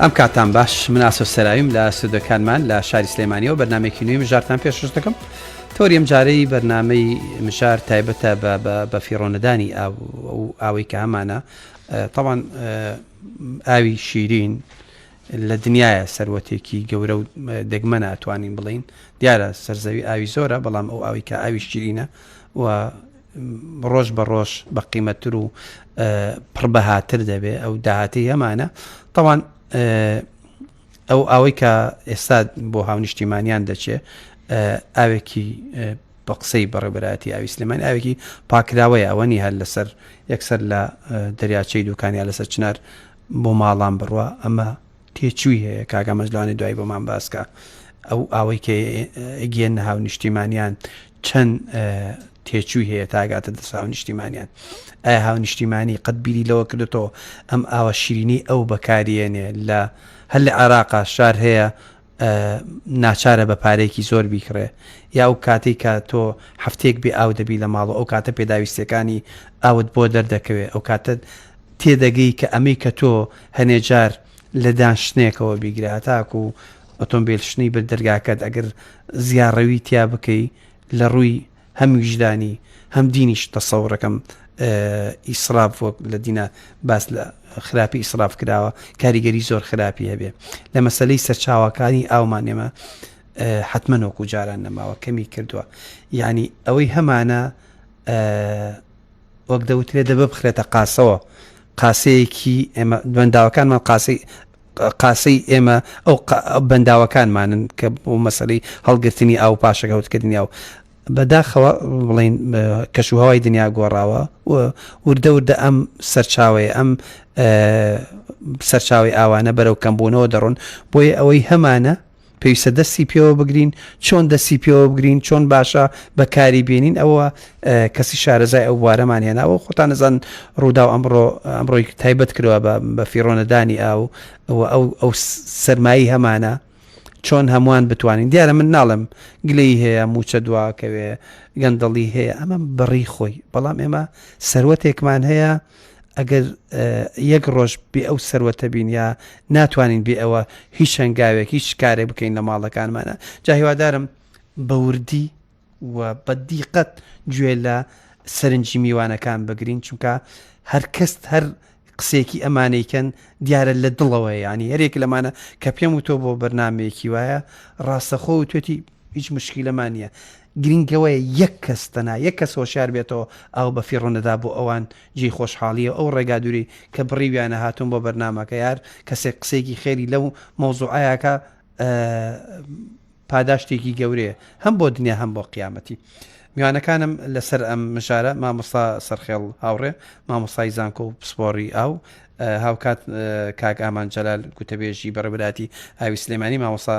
ئەم کاتتان باش من ئاسۆ سەراویم لە سودەکانمان لە شاری سلێمانیەوە بەرنمێکی نوێی مژارتان پێشش دەکەم تۆری ئەم جارەی بەرنمەی مژار تایبەتە بە فیڕۆنەدانی ئاوەی کە هەمانە تاوان ئاوی شیرین لە دنیاە سەروەتێکی گەورە و دەگمەنە ئەتوانین بڵین دیارە سەرزەوی ئاوی زۆرە بەڵام ئەو ئاوی کە ئاوی شیرینە و ڕۆژ بە ڕۆژ بە قیمەتتر و پڕ بەهاتر دەبێ ئەو داهاتی هەمانە تاوان ئەو ئەوەی کە ئێستا بۆ هاونیشتیمانیان دەچێ ئاوێکی بە قسەی بەڕێبەراتی ئاوی سلێمان ئاوێکی پاکراوەیە ئەوەنی هەر لەسەر یەکسەر لە دەریاچەی دوکانیا لەسەر چنار بۆ ماڵان بڕوە ئەمە تێچووی هەیە کاک ئامەز لەوانەیە دوایی بۆمان باس کا ئەو ئاوەی کە گێنە هاونیشتیمانیان چەند تێچووی هەیە تاگاتە دەست هاونیشتیمانیان ئایا هاونیشتیمانی قەت بیری لەوە کردێتەوە ئەم ئاوە شیرینی ئەو بەکارێنێ لە هەر لە عێراقا شار هەیە ناچارە بە پارێکی زۆر بیکڕێ یا ئەو کاتی کە تۆ هەفتێک بێ ئاو دەبی لە ماڵ ئەو کاتە پێداویستەکانی ئاوت بۆ دەردەکەوێ ئەو کاتە تێدەگەی کە ئەمەی کە تۆ هەنێ جار لە دان شتنێکەوە بیگرە هەتاکو ئۆتۆمبیل شتنی برد دەرگاکەت ئەگەر زیاڕەوی تیا بکەی لە ڕووی هەم ویژدانی هەم دینیش تەسەورەکەم ئیسراف وەک لە دینە باس لە خراپی ئیسراف کراوە کاریگەری زۆر خراپی هەبێ لە مەسلەی سەرچاوەکانی ئاومان ئێمە حتممە نۆکو جاران نەماوە کەمی کردووە یعنی ئەوەی هەمانە وەک دەوترێ دەبە بخرێتە قاسەوە قاسەیەکی ئێمە بەنداوەکانمان قاسەی قاسەی ئێمە ئەو بەنداوەکانمانن کە بۆ مەسەری هەڵگرتنی ئاو پاشەکەوتکردنی ئەو بەداخەوە بڵین کەش و هەوای دنیا گۆڕاوە و وردە وردە ئەم سەرچاوەیە ئەم سەرچاوی ئاوانە بەرەو کەمبوونەوە دەڕۆن بۆیە ئەوەی هەمانە پێویستە دەستی پێوە بگرین چۆن دەستی پێوە بگرین چۆن باشە بەکاری بینین ئەوە کەسی شارەزای ئەو بوارەمان هێناوە خۆتان نەزان ڕوودا و ئەمڕۆ ئەمڕۆی تایبەت کرەوە بە فیرۆنەدانی ئاو ئەو ئەو سەرمایی هەمانە چۆن هەمووان بتوانین دیارە من ناڵم گلەی هەیە موچە دواکەوێ گەندەڵی هەیە ئەمە بڕی خۆی بەڵام ئێمە سەروەتێکمان هەیە ئەگەر یەک ڕۆژ بێ ئەو سەروەتە بین یا ناتوانین بێ ئەوە هیچ هەنگاوێک هیچ کارێک بکەین لە ماڵەکانمانە جا هیوادارم بەوردی و بەدیقەت گوێ لە سەرنجی میوانەکان بگرین چونکە هەر کەست هەر قسێکی ئەمانەیکەن دیارە لە دڵەوەی ینی هەرێک لەمانە کە پێم وتۆ بۆ بەرنمەیەکی وایە ڕاستەخۆ و توێتی هیچ مشکیلەمان نیە گرینگەوەیە یەک کەس تەنها یەک کەس هۆشیار بێتەوە ئاو بە فیڕۆ نەدا بۆ ئەوان جێی خۆشحاڵیە ئەو ڕێگا دووری کە بڕیویانە هاتووم بۆ بەرنامەکە یار کەسێک قسەیەکی خێری لەو مەوزوعەیەکە پاداشتێکی گەورەیە هەم بۆ دنیا هەم بۆ قیامەتی میوانەکانم لەسەر ئەم مژارە مامۆستا سەرخێڵ هاوڕێ مامۆستای زانکۆ و پسپۆری ئاو هاوکات کاک ئامان جەلال گوتەبێژی بەڕێبراتی ئاوی سلێمانی مامۆسا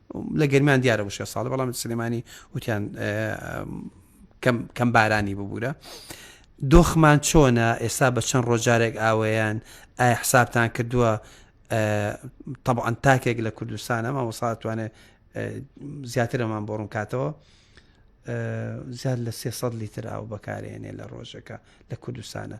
لە گەرمیان دیارە وشکە ساڵە بەڵام سلێمانی وتیان کەم بارانی ببوورە دۆخمان چۆنە ئێستا بە چەند ڕۆژارێک ئاوەیان ئایا حسابتان کردووە طبعاان تاکێک لە کوردستانە مامۆساتوانێت زیاترەمان بۆ ڕوون کاتەوە زیاد لە 300 لیتر ئاو بەکارێنێ لە ڕۆژەکە لە کوردستانە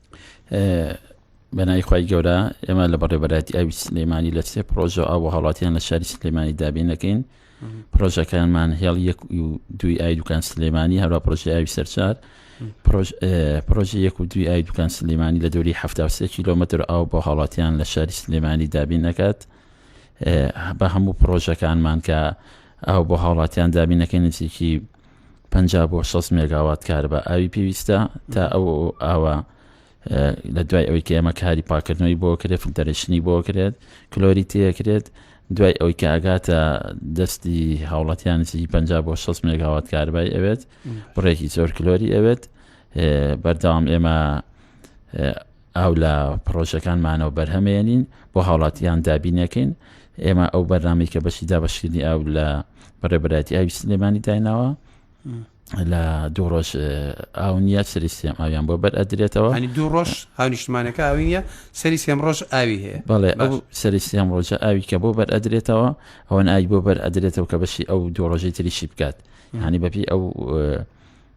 بەنای خی گەورە ئێمە لە بەڕێبەراتی ئاوی سلێمانی لە سێ پرۆژە ئاو هەڵاتیان لە شاری سلێمانی دابینەکەین پرۆژەکانمان هێڵ یەک و دوی ئای دوکان سلێمانی هەروە پرۆژه ئاوی سەرچار پرۆژه یەک و دوی ئای دوکان سلێمانی لە دووری ه کیلومتر ئاو بۆ هەڵاتیان لە شاری سلێمانی دابین نەکات بە هەموو پرۆژەکانمان کە ئاو بۆ هاوڵاتیان دابینەکەی نزیکی پەنجا بۆ شەست مێگاوات کارەبا ئاوی پێویستە تا ئەو ئاوە لە دوای ئەوەی کە ئێمە کاری پاکردنەوەی بۆ کرێت فلتەرشنی بۆ کرێت کلۆری تێکرێت دوای ئەوەی کە ئاگاتە دەستی هاوڵەتیان نزیکی پ بۆ 6 مێگاوات کاربای ئەوێت بڕێکی زۆر کلۆری ئەوێت بەرداوام ئێمە ئاو لە پڕۆژەکانمانەوە بەرهەمێنین بۆ هاوڵاتیان دابینەکەین ئێمە ئەو بەرنامی کە بەشی دابشکردنی ئاو لە بەڕێبەتی ئاوی سلێمانی دایناوە لە دوو ڕۆژ ئاو نیە سری سێم ئاویان بۆ بەر ئەدرێتەوە ئەنی دوو ڕۆژ هاونیشتمانەکە ئاوی نیە سەری سێم ڕۆژ ئاوی هەیە بەڵێ ئەو سەری سێم ڕۆژە ئاوی کە بۆ بەر ئەدرێتەوە ئەوەن ئای بۆ بەر ئەدرێتەوە کە بەشی ئەو دوو ڕۆژەی تریشی بکات هەنی بەپی ئەو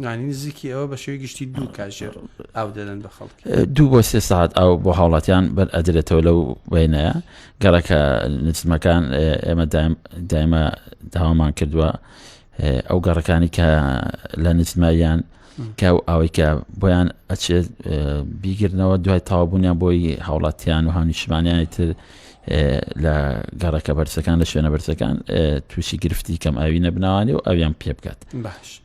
نزیکی ئەوە بە شێوەی گشتی دوو کاژێر ئاو دەدەن بە خەڵک دوو بۆ سێ ساعت ئەو بۆ هاوڵاتیان بەر ئەدرێتەوە لەو وێنەیە گەڕەکە نزمەکان ئێمە دایمە داوامان کردووە ئەو گەڕەکانی کە لە نزمایان کە و ئەوەی کە بۆیان ئەچێت بیگرنەوە دوای تاوابوونیان بۆی هاوڵاتیان و هاونیشمانیانی تر لە گەڕەکە بەرزەکان لە شوێنە بەرزەکان تووشی گرفتی کەم ئاوی نەبناوانی و ئەویان پێ بکات باش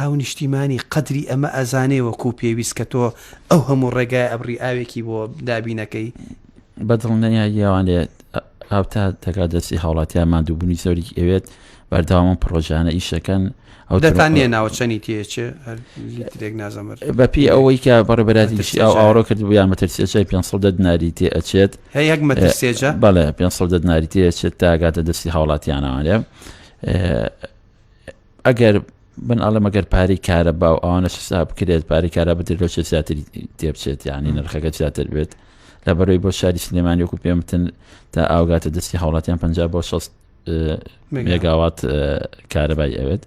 هاونیشتیمانی قەدری ئەمە ئەزانێ وەکو پێویست کە تۆ ئەو هەموو ڕێگایە ئەبڕی ئاوێکی بۆ دابینەکەی. بە دڵنیایی ئەوان لێت هاوتا دەگا دەستی هاوڵاتیان ماندووبوونی زۆری ئەوێت بەردەوامم پڕۆژانە ئیشەکەن ئەو دەتان نیە ناوە چەنی تێچێ لیترێک نازەمەر بەپی ئەوەی کە بەڕێبەراتیشی ئەو ئاڕۆ کرد بوویان مەترسێجای 500 دناری تێ ئەچێت هەیەک مەترسێجە بەڵێ 500 دناری تێچێت تاگاتە دەستی هاوڵاتیانەوانێ ئەگەر من ئەڵێ مەگەر پارەی کارە باو ئەوانە سسا بکرێت پارەی کارا بدرێت لەو چێ زیاتر تێبچێت یعنی نرخەکە زیاتر بێت لە بەرەوەی بۆ شاری سلێمانی وکو پێمتن تا ئاوگاتە دەستی هاوڵاتیان پ بۆ 6 مێگاوات کارەبای ئەوێت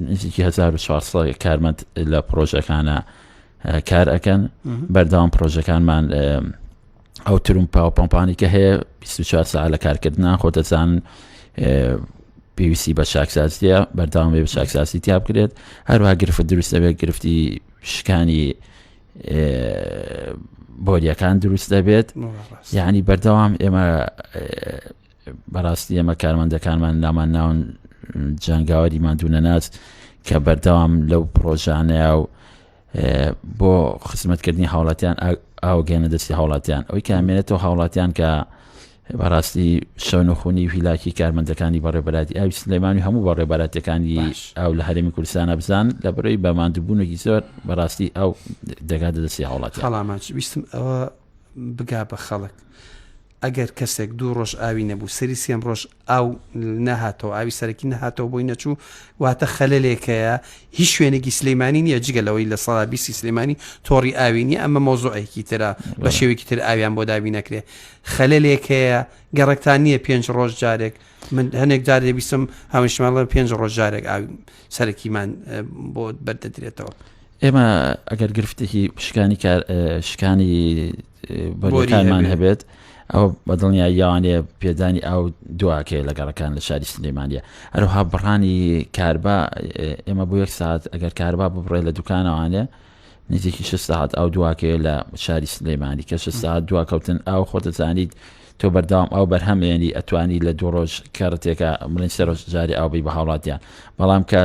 نزیکی 1940 کارمەند لە پرۆژەکانە کار ئەەکەن بەرداوام پرۆژەکانمان ئەو ترم پاو پمپانی کە هەیە 24 سا لە کارکردنا خۆ دەزان پێویستی بە چاکسازیە بەرداوام بە چاکسازی تیا بکرێت هەروها گرفت دروست دەبێت گرفتی شکانی بۆریەکان دروست دەبێت یعنی بەردەوام ئێمە بەڕاستی ئێمە کارمەندەکانمان نامان ناون جنگاوەری مادوونە ناچ کە بەردەوام لەو پرۆژانەیە و بۆ خزمەتکردنی هاوڵاتیان ئاوگەێنە دەستی هاوڵاتیان ئەوی کامێنێتەوە هاوڵاتیان کە بەڕاستی شەون و خونی ویلاکی کارمەندەکانی بەڕێبەراتی ئاوی سلێمانی هەموو بەڕێبەراتەکانی ئاو لە هەرمی کوردستانە بزان لە بەرەی بەماندوبوونێکی زۆر بەڕاستی ئەو دەگا دەستی هاوڵاتی هەڵاماچ ویستم ئەوە بگا بە خەڵک ئەگەر کەسێک دوو ڕۆژ ئاوی نەبوو سەری سێم ڕۆژ ئاو نەهاتەوە، ئاوی سەرەکی نەهاتەوە بۆی نەچوو، واتە خەلەلێک هەیە، هیچ شوێنێکی سلیمانی نییە جگە لەوەی لە سەدا بیستی سلیمانی تۆڕی ئاوی نییە، ئەمە مەوزوعێکی ترە بە شێوەیەکی تر ئاویان بۆ دابین نەکرێ، خەلەلێک هەیە گەڕەکتان نییە پێنج ڕۆژ جارێک من هەنێک جار دەبیستم هاونیشتمان بڵێن پێنج ڕۆژ جارێک ئاوی سەرەکیمان بۆ بەردەدرێتەوە. ئێمە ئەگەر گرفتێکی شکانی کار شکانی بۆریەکانمان هەبێت ئەو بەدڵنیا یاوانەیە پێدانی ئاو دواکەی لە گەڕەکان لە شاری سلێمانە هەروها بڕانی کاربا ئێمە بۆ یەک ساعت ئەگەر کاربا ببڕێ لە دوکانەوانێ نزیکی شش ساعت ئەو دواکەیە لە شاری سلێمانی کە شش ساعت دواکەوتن ئاو خۆتەزانیت تۆ بەرداوام ئەو بەرهەمێنی ئەتوانی لە دوو ڕۆژ کارەتێکە مڵین سەرۆژ جاری ئاوبی بە هاوڵاتیان بەڵام کە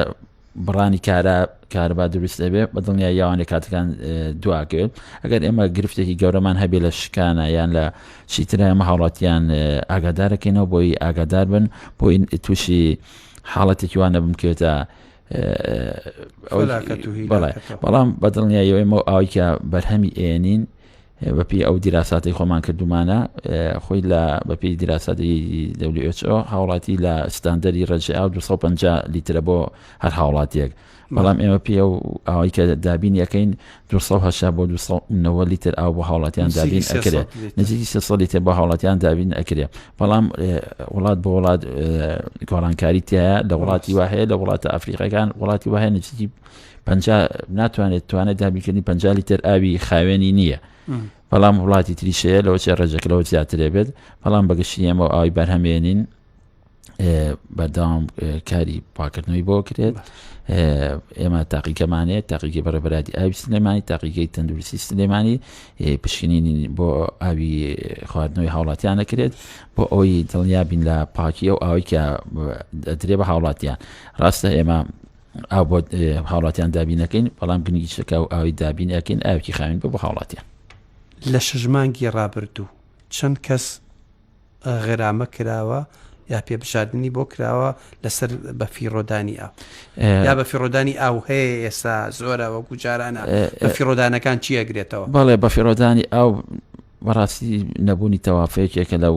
بڕانی کارا کارەبا دروست دەبێت بە دڵنیایی یاوانێ کاتەکان دواکەوێت ئەگەر ئێمە گرفتێکی گەورەمان هەبێ لە شکانە یان لە چیترە ئەمە هاوڵاتیان ئاگادارەکەینەوە بۆی ئاگادار بن بۆی تووشی حاڵەتێکی وانە بمکەوێتە بەڵام بەدڵنیایەوەی مە ئاویکە بەرهەمی ئێنین بەپێی ئەو دیراساتەی خۆمان کردومانە خۆی لە بەپێی دیراساتی WHO هاوڵاتی لە ستاندەری ڕێژەی ئاو 250 لیترە بۆ هەر هاوڵاتیەک بەڵام ئێمە پێ و ئەوەی کە دابین یەکەین 200 بۆ 290 لیتر ئاو بۆ هاوڵاتیان دابین ئەکرێت نزیکی 300 لیتر بۆ هاوڵاتیان دابین ئەکرێت بەڵام وڵات بۆ وڵات گۆڕانکاری تایە لە وڵاتی وهەیە لە وڵاتە ئەفریقەکان وڵاتی وهەیە نزیکی پەنجا ناتوانێت توانێت دابیکردنی پەنجا لیتر ئاوی خاوێنی نییە بەڵام وڵاتی تریشەیە لەەوە چێ ڕێژەکەەوە زیاترێ بێت بەڵام بەگشتی ئەمە ئاوی بەرهەمێنین بەرداوام کاری پاکردنەوەی بۆ کرێت ئێمە تاقیکەمانەیە تاقیکی بەڕێبراتی ئاوی سلێمانی تاقیگەی تەندروستی سلێمانی پشکنینی بۆ ئاوی خواردنەوەی هاوڵاتیان نەکرێت بۆ ئەوی دڵنیابین لە پاکی ئەو ئاوی کە دەدرێ بە هاوڵاتیان ڕاستە ئێمە ئاو بۆ هاوڵاتیان دابین نەکەین بەڵام گرنگی شەکا و ئاوی دابین ئەکەین ئاوکی خاوین بە بە هاوڵاتیان لە شژمانگی ڕابردوو چەند کەس غرامە کراوە یا پێبژاردننی بۆ کراوە لەسەر بە فیڕۆدانی ئاو یا بە فیڕۆدانی ئاو هەیە ئێستا زۆرە وەکو جارانە بە فیڕۆدانەکان چیەگرێتەوە بەڵێ بە فیڕۆدانی ئاو بەڕاستی نەبوونی تەوافەیەکێکە لەو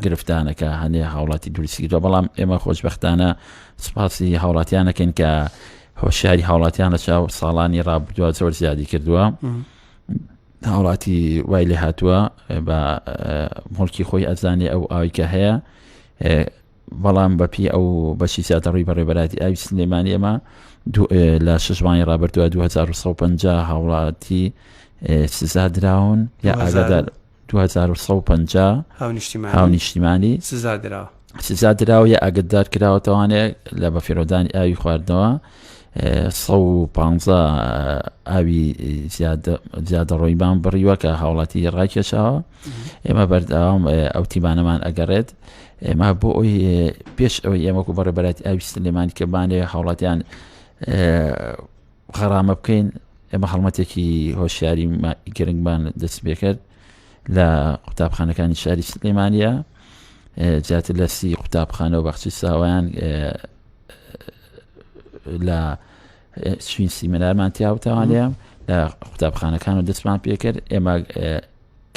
گرفتانەکە هەندێک هاوڵاتی دروستیکردوە بەڵام ئێمە خۆشببختانە سپاسی هاوڵاتیانەکەین کە هۆشیاری هاوڵاتیان لە چاو ساڵانی ڕابدووە زۆر زیادی کردووە هاوڵاتی وای لێ هاتووە بە مڵکی خۆی ئەزانێ ئەو ئاویکە هەیە بەڵام بەپی ئەو بەشی زیاتەڕووی بەڕێبەراتی ئاوی سلێمانی ئەمە لە ششوانی ڕابردووە 2050 هاوڵاتی سزا دراون یا ئاگادار دوو هەزار و سەد و پەنجا هاونیشتیمانی سزا درا سزا دراوە یا ئاگدار کراوەتەوانێ لە بەفیرۆدانی ئاوی خواردنەوە 150 ئاوی زیادە ڕۆیبان بڕیوە کە هاوڵاتی ڕاکێشاوە ئێمە بەرداوام ئەو تیمانەمان ئەگەڕێت ئێمە بۆ ئەوی پێش ئەوەی ئێمەکو بەڕێبەرات ئاوی سلێمانی کە بانێ هاوڵاتیان غەرامە بکەین ئێمە هەڵمەتێکی هۆشیاری گرنگمان دەست بێکرد لە قوتابخانەکانی شاری سلێمانە جیاتر لە سی قوتابخانە و بەخشی ساوایان لە شوین سیمەنارمان تیاوتەوانەیە لە قوتابخانەکان و دەستمان پێکرد ئێمە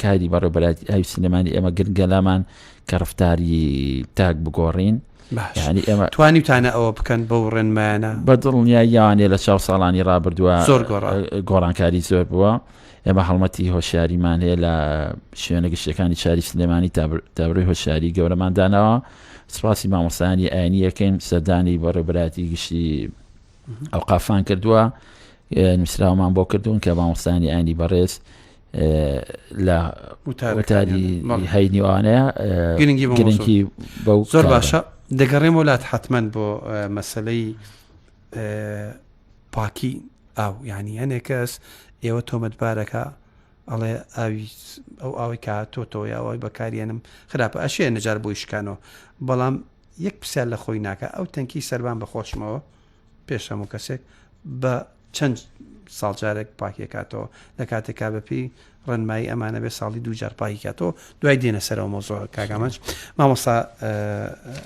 کاری بەڕێبەرایەتی ئاوی سلێمانی ئێمە گرنگە لامان کە ڕفتاری تاک بگۆڕین ینی ئێمە توانیتانە ئەوە بکەن بە و ڕێنمایانە بە دڵنیا یانێ لە چاو ساڵانی ڕابردووە زۆر گۆڕانکاری زۆر بووە ئێمە هەڵمەتی هۆشیاریمان هەیە لە شوێنە گشتەکانی چاری سلێمانی تابروی هۆشیاری گەورەمان داناوە سپاسی مامۆستانی ئاینی یەکەین سەردانی بە ڕێبراتی گشتی ئەو قافان کردووە نووسراومان بۆ کردوون کە مامۆستانی ئاینی بەڕێز لە وتاری هەینیوانەیە گرنگی گرنگی بە زۆر باشە دەگەڕێم وڵات حتممەند بۆ مەسلەی پاکی ئاو ینی هەنێک کەس ئێوە تۆمەتبارەکە ئەڵێ ئاوی ئەو ئاوی کا تۆتەوە یاوای بەکارێنم خراپە ئەشێ نەجار بۆی شکانەوە بەڵام یەک پرسیار لە خۆی ناکە ئەو تەنکی سەربان بە خۆشمەوە پێش هەموو کەسێک بە چەند ساڵ جارێک پاکی کاتەوە لە کاتێکا بەپی ڕێنمایی ئەمانە بێ ساڵی دوو جار پاکی کاتەوە دوای دێنە سەرەوە مۆزۆ کاگامەج مامۆستا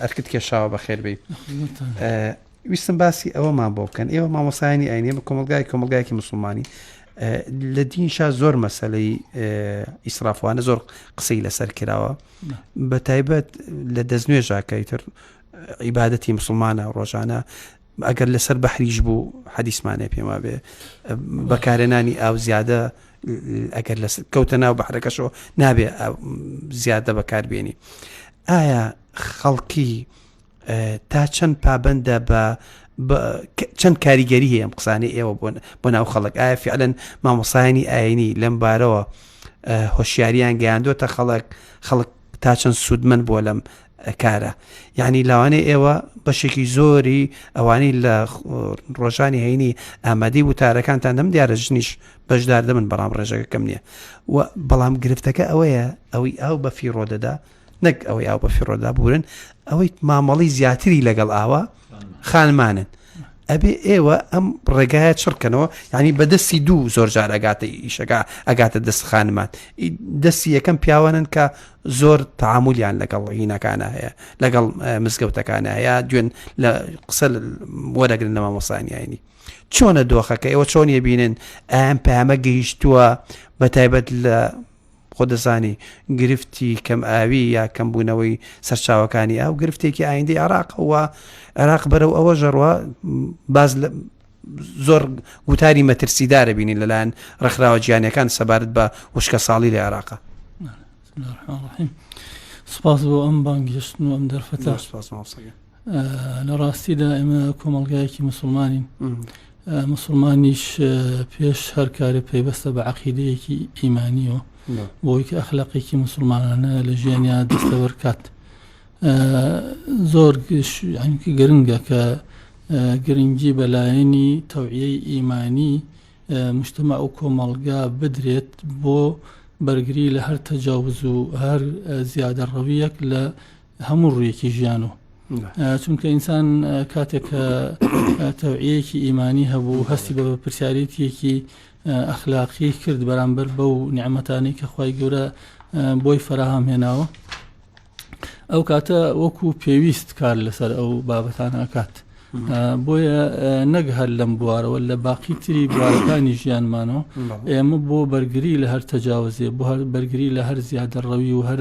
ئەرکت کێشاوە بە خێربی ویستم باسی ئەوەمان بۆ بکەن ئێوە مامۆسایانی ئاینێ بە کۆمەلگای کۆمەلگایکی مسلمانی لە دینشا زۆر مەسلەی ئیسرافوانە زۆر قسەی لەسەر کراوە بە تایبەت لە دەستنوێژاکەی تر عیبادەتی مسوڵمانە ڕۆژانە ئەگەر لەسەر بەحریش بوو حەدیسمانێ پێم وابێ بەکارێنانی ئاو زیادە ئەگەر لە کەوتە ناو بەحرەکەشەوە نابێ زیادە بەکاربیێنی ئایا خەڵکی تا چەند پابندە بە چەند کاریگەری هەیە ئەم قسانەی ئێوە بوون بۆ ناو خەڵک ئایا فعلەن مامۆسایانی ئاینی لەم بارەوە هۆشیاریان گەیاندوتە خەڵک خەڵک تا چەند سوودمەند بووە لەم کارە یعنی لاوانێ ئێوە بەشێکی زۆری ئەوانی لە ڕۆژانی هەینی ئامادی وتارەکانتان دەم دیارە ژنیش بەشدار دەبن بەڵام ڕێژەکەکەم نییە و بەڵام گرفتەکە ئەوەیە ئەوەی ئاو بە فیڕۆ دەدا نەک ئەوەی ئاو بە فیڕۆدا بورن ئەوەی مامەڵی زیاتری لەگەڵ ئاوە خانمانن ئەبێ ئێوە ئەم ڕێگایە چڕکەنەوە ینی بە دەستی دوو زۆر جار ئەگاتە ئیشەکە ئەگاتە دەست خانمان دەستی یەکەم پیاوانن کە زۆر تعاملیان لەگەڵ هینەکانە هەیە لەگەڵ مزگەوتەکانە هەیە دوێن لە قسە وەرەگرن لە مامۆسانیانی چۆنە دۆخەکە ئێوە چۆن یەبینن ئەم پامە گەیشتووە بە تایبەت لە خۆت دەزانی گرفتی کەم ئاوی یا کەمبوونەوەی سەرچاوەکانی ئاو گرفتێکی ئایندی عراقەوە عراق بەرەو ئەوە ژەڕوە باز زۆر گوتاری مەترسیدارە بینین لەلایەن ڕخراوە گیانەکان سەبارەت بە وشکە ساڵی لە عێراقا سپاس بۆ ئەم بانگهێشتن و ئەم دەرفەت لە ڕاستیدا ئێمە کۆمەلگایەکی مسلمانین مسلمانیش پێش هەر کارە پەیوەستە بە عقیدەیەکی ئیمانیەوە بۆی کە ئەخلاقێکی مسلمانانە لە ژیانیا دەستەوەر کات زۆر گشتی گرنگە کە گرنگی بەلایەنی تەوعەی ئیمانی مشتمە ئەو کۆمەڵگا بدرێت بۆ بەرگری لە هەر تەجاوز و هەر زیادە ڕەویەک لە هەموو ڕوویەکی ژیان و چونکە ئینسان کاتێک کە تەوعەیەکی ئیمانی هەبوو هەستی بە پرسیارێتیەکی ئەخلاقی کرد بەرامبەر بەو نیعممەتانی کە خی گەورە بۆی فراهام هێناوە ئەو کاتە وەکو پێویست کار لەسەر ئەو بابەتان ئاکات بۆیە نەک هەر لەم بوارەوە لە باقی تری بوارەکانی ژیانمانەوە ئێمە بۆ بەرگری لە هەر تەجاوزێ بۆ هەر بەرگری لە هەر زیادە ڕەوی و هەر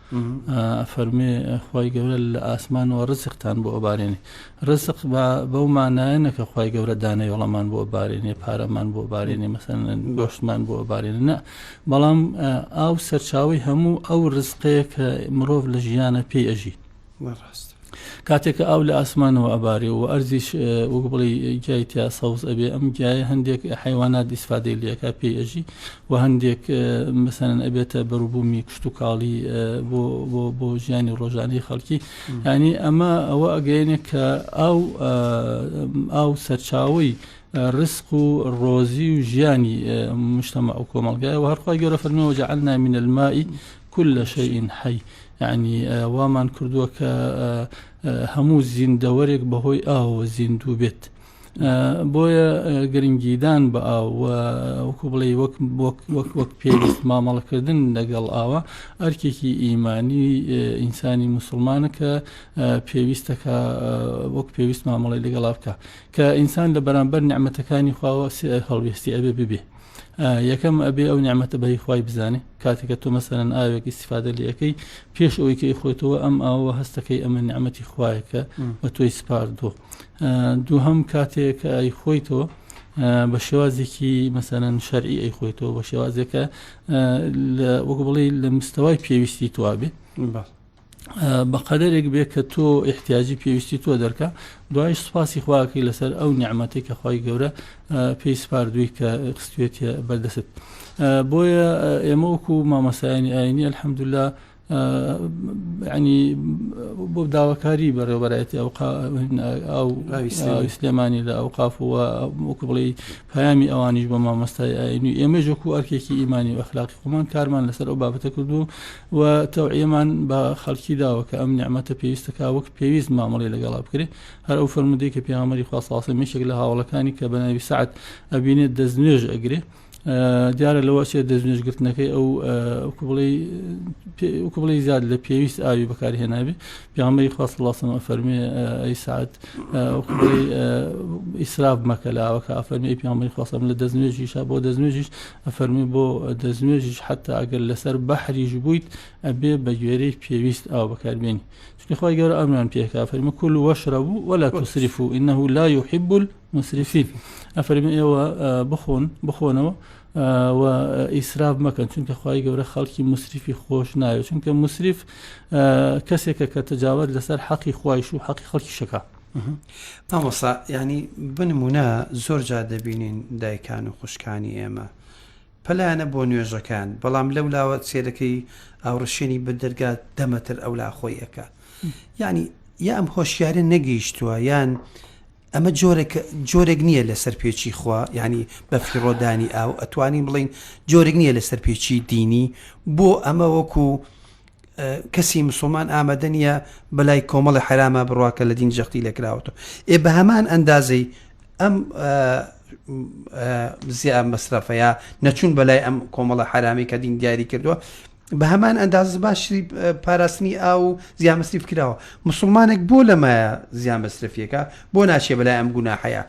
ئەفەرموێ خوای گەورە لە ئاسمانەوە ڕزقتان بۆ ئەبارێنێ ڕزق با بەو مانایەنە کە خوای گەورە دانەوێڵەمان بۆ بارێنێ پارەمان بۆ بارێنێ مەسەن گۆشتمان بۆ بارێنێ نە بەڵام ئاو سەرچاوی هەموو ئەو ڕزقەیە کە مرۆڤ لە ژیانە پێی ئەژی نەڕاست کاتێک کە ئاو لە ئاسمانەوە ئەبارێ و ئەرزیش وەک بڵێی گیای تیا سەوز ئەبێ ئەم گیایە هەندێک حیوانات ئیسفادەی لەکە پێی ئەژی و هەندێک مەسەن ئەبێتە بەروبوومی کشت و کاڵی بۆ ژیانی ڕۆژانەی خەڵکی ینی ئەمە ئەوە ئەگەێنێ کە ئاو ئاو سەرچاوی ڕسق و ڕۆزی و ژیانی مشتەمە ئەو کۆمەلگای و هەرخوای گەۆرە فەرمیەوە جعلنا من المائی کل شیء حی، یەعنی وامان کردووە کە هەموو زیندەوەرێک بەهۆی ئاوەوە زیندوو بێت. بۆیە گرنگیدان بە ئاو و وەکو بڵێی وەک وەک وەک وەک پێویست مامەڵەکردن لەگەڵ ئاوە ئەرکێکی ئیمانی ئینسانی موسڵمانە کە پێویستە کە وەک پێویست مامەڵەی لەگەڵا بکا کە ئینسان لە بەرامبەر نیعمەتەکانی خواوە هەڵوێستی ئەبێ ببێ. یەکەم ئەبێ ئەو نیعممەتە بەهی خی بزانێ کاتێکە تۆ مەسەرەن ئاوێک ئیسفادە لەکەی پێش ئەوەی کە ئیخۆێتەوە ئەم ئاوە هەستەکەی ئەمە نیعممەتی خوایەکە بە تۆی سپاردووە دوو هەم کاتێک ئای خۆیتەوە بە شێوازێکی مەسەرەن شەرعی ئەی خۆیتەوە بە شێوازێکە وەک بڵێ لە مستەوای پێویستی توابێ بەقەدەرێک بێ کە تۆ احتیاجی پێویستی تۆ دەرکە دوایش سوپاسی خواکەی لەسەر ئەو نیعممەتی کە خی گەورە پێی سپاردووی کە خستێت بەردەست بۆیە ئێمە وەکو مامەسایانی ئاینی الحەمدللا ینی بۆ داواکاری بەڕێوبەرایەتی ئەو ئەو سلێمانی لە ئەو قافوە وەکو بڵێ پامی ئەوانیش بە مامۆستای ئاینی ئێمەش وەکو ئەرکێکی ئیمانی و ئەخلاقی خۆمان کارمان لەسەر ئەو بابەتە کردو و تەوعیەمان بە خەڵکی داوە کە ئەم نیعمەتە پێویستە کا وەک پێویست مامەڵی لەگەڵا بکرێت هەر ئەو فەرمودەی کە پێغەمبەری خوا صلی الله علیه و سلم یەکێک لە هاوڵەکانی کە بە ناوی سعد ئەبینێت دەست نوێژ ئەگرێ دیارە لەوە چێت دەست نوێژگرتنەکەی ئەو وکو بڵێ زیاد لە پێویست ئاوی بەکارهێنابێ پیامەی خواست لاسەمە فەرمێ ئەی سعات ئیسراف مەکە لاوەکە ئەفەرمی پیامەی خواستم لە دەستنوێژیشا بۆ دەستنوێژیش ئەفەرمووی بۆ دەستنوێژیش حەتا ئەگەر لەسەر بەحریش بوویت ئەبێ بە گوێرەی پێویست ئاو بەکاربێنی چونکە خۆی گەورە ئەمران پێکا فەرمە کول و وەشرە بوو وەلا تسریف و ئینەه لا یحب المسرفین ئەفەرمە ئێوە بخۆن بخۆنەوە و ئیسراف مەکەن چونکە خی گەورە خەڵکی مسریفی خۆش ناوێت چونکە مسریف کەسێکە کە تەجاوت لەسەر حەقی خوایش و حەقی خەڵکی شەکە مامۆسا یعنی بنمونە زۆر جا دەبینین دایکان و خوشکانی ئێمە پەلایەنە بۆ نوێژەکان بەڵام لەو لاوە سێرەکەی ئاوڕشێنی بە دەرگا دەمەتر ئەو لا خۆی ئەەکە یعنی یا ئەم هۆشیارە نەگەیشتووە یان ئەمە جۆرێک جۆرێک نییە لە سەرپێچی خوا ینی بەفری ڕۆدانی ئاو ئەتوانین بڵین جۆرێک نییە لە سەرپێچی دینی بۆ ئەمە وەکو کەسی مسوڵمان ئامەدە نیە بەلای کۆمەڵی حرامە بڕوا کە لە دین جەختی لێکراوەتەوە ئێ بە هەمان ئەندازەی ئەم زییا مەسرەفەیە نەچون بەلای ئەم کۆمەڵە حرامی کە دین دیاری کردووە بە هەمان ئەنداز باشی پاراستنی ئاو و زیامەسری بکراوە مسلمانێک بۆ لەمایە زیامەسرفیەکە بۆ ناچێ بەلای ئەم گوناحەیە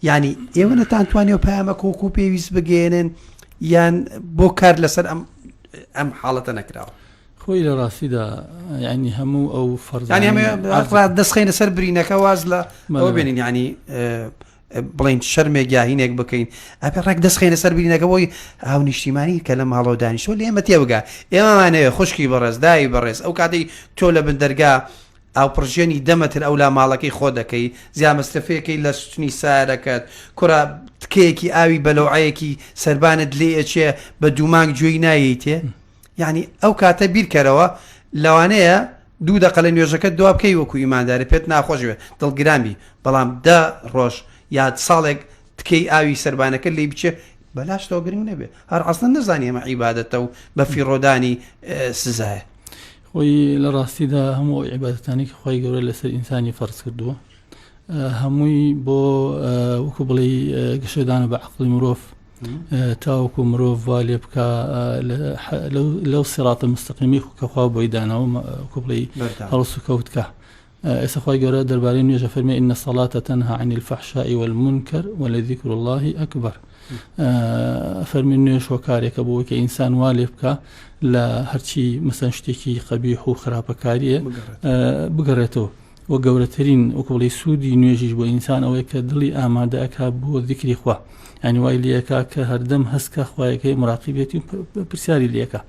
ینی ئێوە نەتانتوانێ و پامە کۆکو پێویست بگەێنن یان بۆ کار لەسەر ئەم ئەم حاڵەتە نەکراوە خۆی لە ڕاستیدا ینی هەموو ئەو فەرزانە دەستخینە سەر برینەکە واز لە ئەوە بێنین ینی بڵین شەرمێک یاهینێک بکەین ئەپێ ڕێک دەستخێنە سەر بینەکە بۆی هاو نیشتیمانی کە لە ماڵەوە دانیشتۆ لێمە تێبگا ئێمەمانەیە خوشکی بەڕێز داوی بەڕێز ئەو کاتی تۆ لە بندەرگا ئاوپڕژێنی دە مەتر ئەولا ماڵەکەی خۆ دەکەی، زیامەستەفێکەی لە ستونی سارەکەت، کورە تکەیەکی ئاوی بەلەوعەیەکی سەربانت لێ ئەچێ بە دوو مانگ گوێی نایەیتێ، یەعنی ئەو کاتە بیرکەرەوە لەوانەیە دوو دەقە لە نوێژەکەت دوا بکەی وەکو ئیماندارێ پێت ناخۆش بێ دڵگران بی، بەڵام دە ڕۆژ یا ساڵێک تکەی ئاوی سەربانەکەت لی بچێ بەلاشتەوە گرنگ نەبێ، هەر عەسڵەن نەزانی ئەمە عیبادەتە و بەفیڕۆدانی سزایە. خۆی لە ڕاستیدا هەموو ئەو عیبادەتانەی کە خوای گەورە لەسەر ئینسانی فەرز کردووە هەمووی بۆ وەکو بڵێ گەشەدانە بە عقلی مرۆڤ تاوەکو مرۆڤ وا لێ بکە لەو سراتە مستەقیمی کەخوا بۆی داناوە کوبڵی هەڵسو کەوتکە ئێستا خوای گەورە دەربارەی نوێژ ئەفەرمێ ان الصلاة تنهی عن الفحشاء والمنکر ولذکر الله اکبر ئەفەرمێ نوێژ هۆکارێکە بۆ کە ئینسان وا لێ بکە لە هەرچی مەسەن شتێکی قەبیح و خراپەکاریە بگەڕێتەوە و گەورەترین وکوڵی سوودی نوێژیش بۆ ئینسان ئەوەیە کە دڵی ئامادەکە بۆ دیکری خوا ئەنیوای لەکە کە هەردەم هەستکە خوایەکەی مراقیبێتی پرسیاری لەکە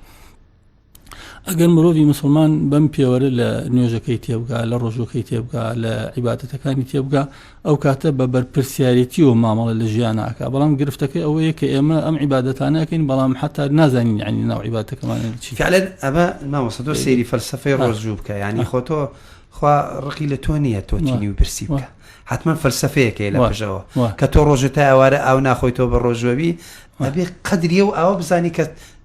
ئەگەر مرۆڤی مسلمان بەم پێوەرە لە نوێژەکەی تێبگا لە ڕۆژەکەی تێبگا لە عیباتەتەکانی تێبگا ئەو کاتە بە بەرپرسیارەتی و مامەڵە لە ژیانناکە بەڵام گرفتەکەی ئەوەیە کە ئێمە ئەم عیباەتانەکەین بەڵام حتا نازانین عنی ناو عیباتەکەمان چی فعلەن ئەمە مامەسە تۆ سێری فەلسفەی ڕۆژوو بکە ینی خۆتۆ خوا ڕقی لە تۆ نییە تۆچینی و برسی بکە حتمما فەلسفەیەکەی لە پژەوە کە تۆ ڕۆژێت تا ئەوارە ئاو ناخۆی تۆ بە ڕۆژوەوی ئەبێ قدریە و ئاوە بزانی کە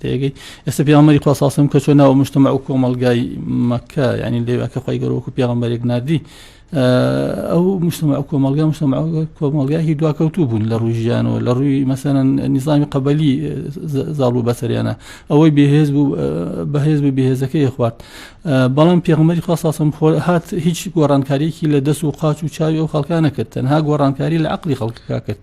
تێگەی ئێستا پیامەری خواساسم کە چۆن ناوە مشتمە ئەو کۆمەلگای مەکە ینی لێواکە خی گەرۆک و پیامەرێک نردی ئەو مشتمە ئەو کۆمەلگا مشتمە کۆمەلگایهی دواکەوتوو بوون لە ڕووی ژیانەوە لە ڕووی مەسەرەن نیزانانی قەبەلی زاڵ و بەسەریانە ئەوەی بێهێز بوو بەهێز بوو بێهێزەکەی خوارد بەڵام پێغمەری خواساسم خۆ هات هیچ گۆڕانکاریەکی لە دەست و قاچ و چاوی ئەو خەڵکانە کرد تەنها گۆڕانکاری لە عقلی خەڵکەکە کرد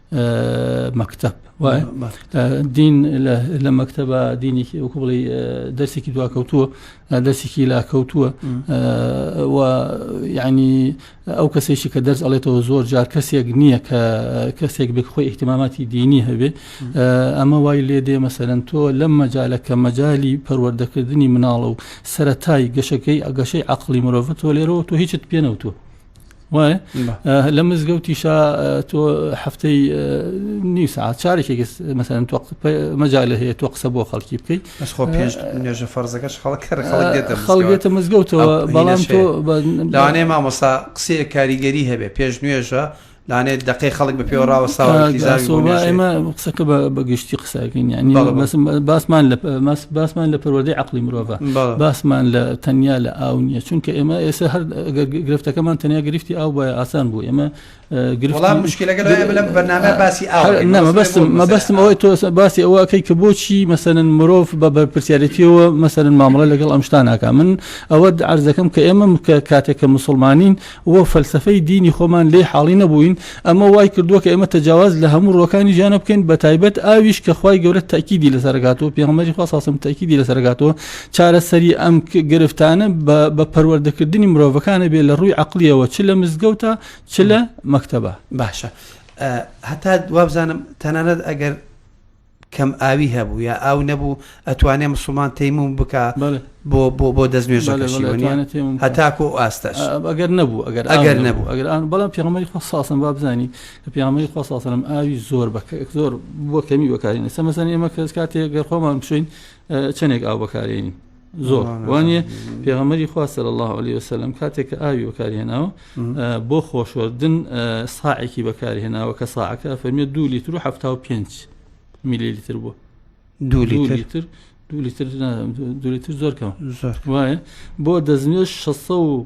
مەکتب دین لە مەکتتەبە دینێکی ئەو بڵی دەرسێکی دواکەوتووە دەرسێکی لاکەوتووە ینی ئەو کەسێکی کە دەرس ئەڵێتەوە زۆر جار کەسێک نییە کە کەسێک بێک خۆی احتماماتی دینی هەبێ ئەمە وای لێ دێ مەسەرەن تۆ لەم مەجالە کە مەجای پەروەردەکردنی مناڵە و سەتای گەشەکەی ئەگەشەی عقلی مرۆڤ تۆ لێرەوە تۆ هیچت پێنەوتوە لە مزگەوتیشا تۆ هەفتەی نی ساعت چارێکی مەسەن تۆ مەجا لە هەیە تۆ قسە بۆ خەڵکی بکەیت خۆ پێش نوێژە فەرزەکەش خەڵک خەڵگێتە مزگەوتەوە بەڵام تۆ لەوانەیە مامۆسا قسەیە کاریگەری هەبێ پێش نوێژە لانێت دقی خەڵک بە پێوەڕاوە ساوەمە قسەکە بە گشتی قسەکەین یعنی باسمان لە باسمان لە پەروەدەی عقلی مرۆڤ باسمان لە تەنیا لە ئاو نییە چونکە ئێمە ئێستا هەر گرفتەکەمان تەنیا گرفتی ئاو باە ئاسان بوو ئێمە گرڵام مشکلەکە لەم بەنامە باسی ئاومەبستم مەبستم ئەوەی تۆ باسی ئەوەکەی کە بۆچی مەسەن مرۆڤ بە بەرپسیارەتیەوە مەسەن مامەڵە لەگەڵ ئەمشتاناکە من ئەوە عرزەکەم کە ئێمە کاتێک کە مسلمانین و فەلسەفەی دینی خۆمان لێی حاڵی نەبووین، ئەمە وای کردووە کە ئێمە تەجاواز لە هەموو ڕووەکانی ژیانە بکەین بەتایبەت ئاویش کە خوای گەورە تەئکیدی لەسەر ئەکاتەوە پێغەمبەری خوا صلی اللە تەئکیدی لەسەر ئەکاتەوە چارەسەری ئەم گرفتانە بە پەروەردەکردنی مرۆڤەکان ئەبێ لە ڕووی عەقڵیەوە چ لە مزگەوتە چ لە مەکتەبە. باشە هەتا وابزانم تەنانەت ئەگەر کەم ئاوی هەبوو یا ئاو نەبوو ئەتوانێ مسوڵمان تەیموم بکا بۆ بۆ بۆ دەست نوێژەکەشی هەتاکو ئاستەش ئەگەر نەبوو ئەگەر ئەگەر نەبوو ئەگەر ئەن بەڵام پیامەری خۆ ساسم با بزانی کە پیامەری خۆ ساسەم ئاوی زۆر بە زۆر بۆ کەمی بەکارین سەمەسەن ئێمە کەس کاتێک گەر خۆمان بشین چەندێک ئاو بەکارێنین زۆر وانە پێغەمەری خوا سەر الله عليه وسلم کاتێک کە ئاوی بەکارهێناوە بۆ خۆشوەردن ساعێکی بەکارهێناوە کە ساعەکە فەرمیێت دو لیتر و ه پێنج میلی لیتر بوو دو لیتر دو لیتر دو لیتر زۆر کەم وایە بۆ دەستنوێش 600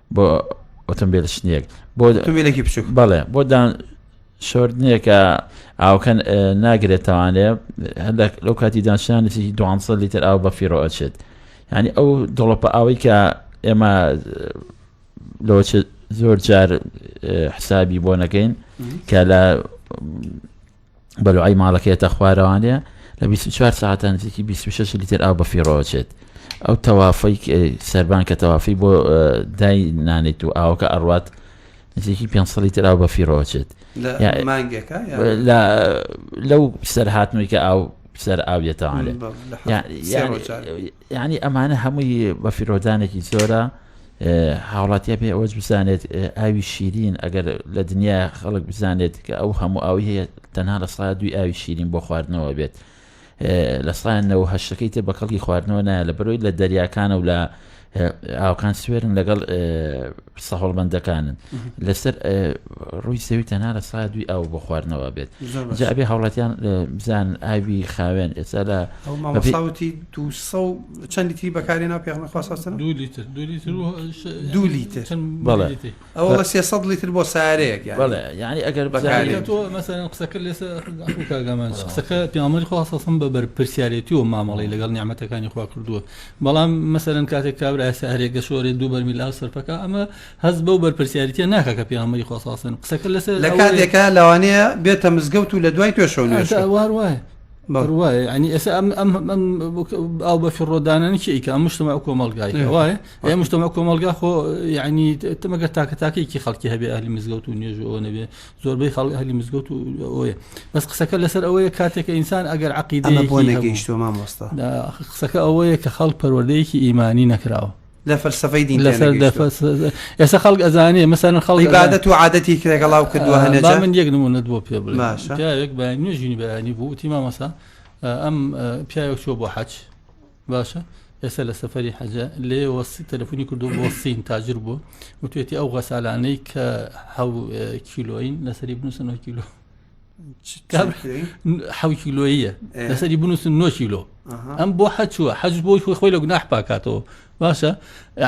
بۆ ئۆتۆمبیل شتێک بۆ ئۆتۆمبیلێکی بچووک بەڵێ بۆ دان شۆردنێکە ئاوکەن ناگرێتوانێ هەندێک لەو کاتی دانشانێکی دوانسە لیتر ئاو بە فیڕۆ ئەچێت ینی ئەو دڵۆپە ئاوەی کە ئێمە لۆ زۆر جار حسابی بۆ نەکەین کە لە بەلوعەی ماڵەکەی هەتا خوارەوانێ لە بیست و چوار سەعاتە نزیکی بیست و شەش لیتر ئاو بەفیڕۆچێت ئەو تەوافەی سەربان کە تەوافی بۆ دای نانێت و ئاوەکە ئەڕوات نزیکی پێ لیتر ئاو بەفیڕۆچێت مانگێکە لەو سەر هاتنەوەی کە ئاو سەر ئاویێتەوانێت یانی ئەمانە هەمووی بە فیرۆدانێکی زۆرە هاوڵاتیا پێ ئەوەج بزانێت ئاوی شیرین ئەگەر لە دنیا خەڵک بزانێت کە ئەو هەموو ئاوی هەیە تەنها لە سا دوی ئاوی شیرین بۆ خواردنەوە بێت لە سایانەوە هەشتەکەی تر بە کەڵکی خواردنەوە نایە لە بەرۆی لە دەریاکانە و لە ئاوکان سوێرن لەگەڵ سەهۆڵمەندەکانن لەسەر ڕووی سەوی تەنها لە سا دوی ئاو بۆ خواردنەوە بێت جابێ هاوڵاتیان بزان ئاوی خاوێن ئێستا لە مەساوتی دو چەندی تری بەکاری ناو پێخمە خواستن دو لیتر دو لیتر ئەوە لە سێ سەد لیتر بۆ سارەیەک یعنی ئەگەر بەکاری تۆ مەسەرەن قسەکە لێسە کاگەمان قسەکە پیامەری خواستم بە بەرپرسیارەتی و مامەڵی لەگەڵ نیامەتەکانی خوا کردووە بەڵام مەسەلەن کاتێک کابرایە سارێ گەشۆرێ دوو بەرمیل ئاو سەرپەکە ئەمە هەست بەو بەرپرسیاریتە ناکە کە پیامەری خۆساسن قسەکە لەسەر لە کاتێکە لەوانەیە بێتە مزگەوت و لە دوای توێشەوە وایە بڕواایە ئەنی ئێستا ئەم ئەم ئەم ئەو بە فڕۆدانانی چیکە ئەم مشتمە کۆمەلگای وایە ئەم مشتمە کۆمەلگا خۆ یعنی تمەگە تاکە تاکێکی خەڵکی هەبێ ئەهلی مزگەوت و نوێژەوە نەبێ زۆربەی خەڵک ئەهلی مزگەوت و ئەوەیە بەس قسەکە لەسەر ئەوەیە کاتێکە ئینسان ئەگەر عقیدە ئەمە بۆ نەگەیشتوە مامۆستا دا قسەکە ئەوەیە کە خەڵک پەروەردەیەکی ئیمانی نەکراوە لە فەلسفەی دین لە سەر لە فەلسفە- ئێستا خەڵک ئەزانێ مەسەرن خەڵک ئەزانێ- عیبادەت و عادەتی کرێگەڵاو کردووە هەنێ با جار. من یەک نمونەت بۆ پێ بڵێ باشە. پیاوێک بە نوێژینی بەیانی بوو وتی مامەسا ئەم پیاوێک چوە بۆ حەج باشە ئێستا لە سەفەری حەجە لێوە تەلفۆنی کردو بۆ سین تاجر بوو وتێتی ئەو غەسالانەی کە ح کیلۆین لەسەری بنووسن کیلۆ ح کیلۆیە لەسەری بنووسن 9 کیلۆ ئەم بۆ حەچووە حەج بۆی خۆی خۆی لە گوناح پاکاتەوە باشە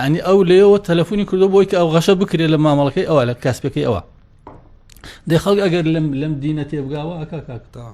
ینی ئەو لێەوە تەلفۆنی کردو بۆی کە ئەو غەشە بکرێت لە مامەڵەکەی ئەوە لە کاسپەکەی ئەوە دەخەڵک ئەگەر لەم لەم دینە تێبگاوە ئەکا کاکتاوە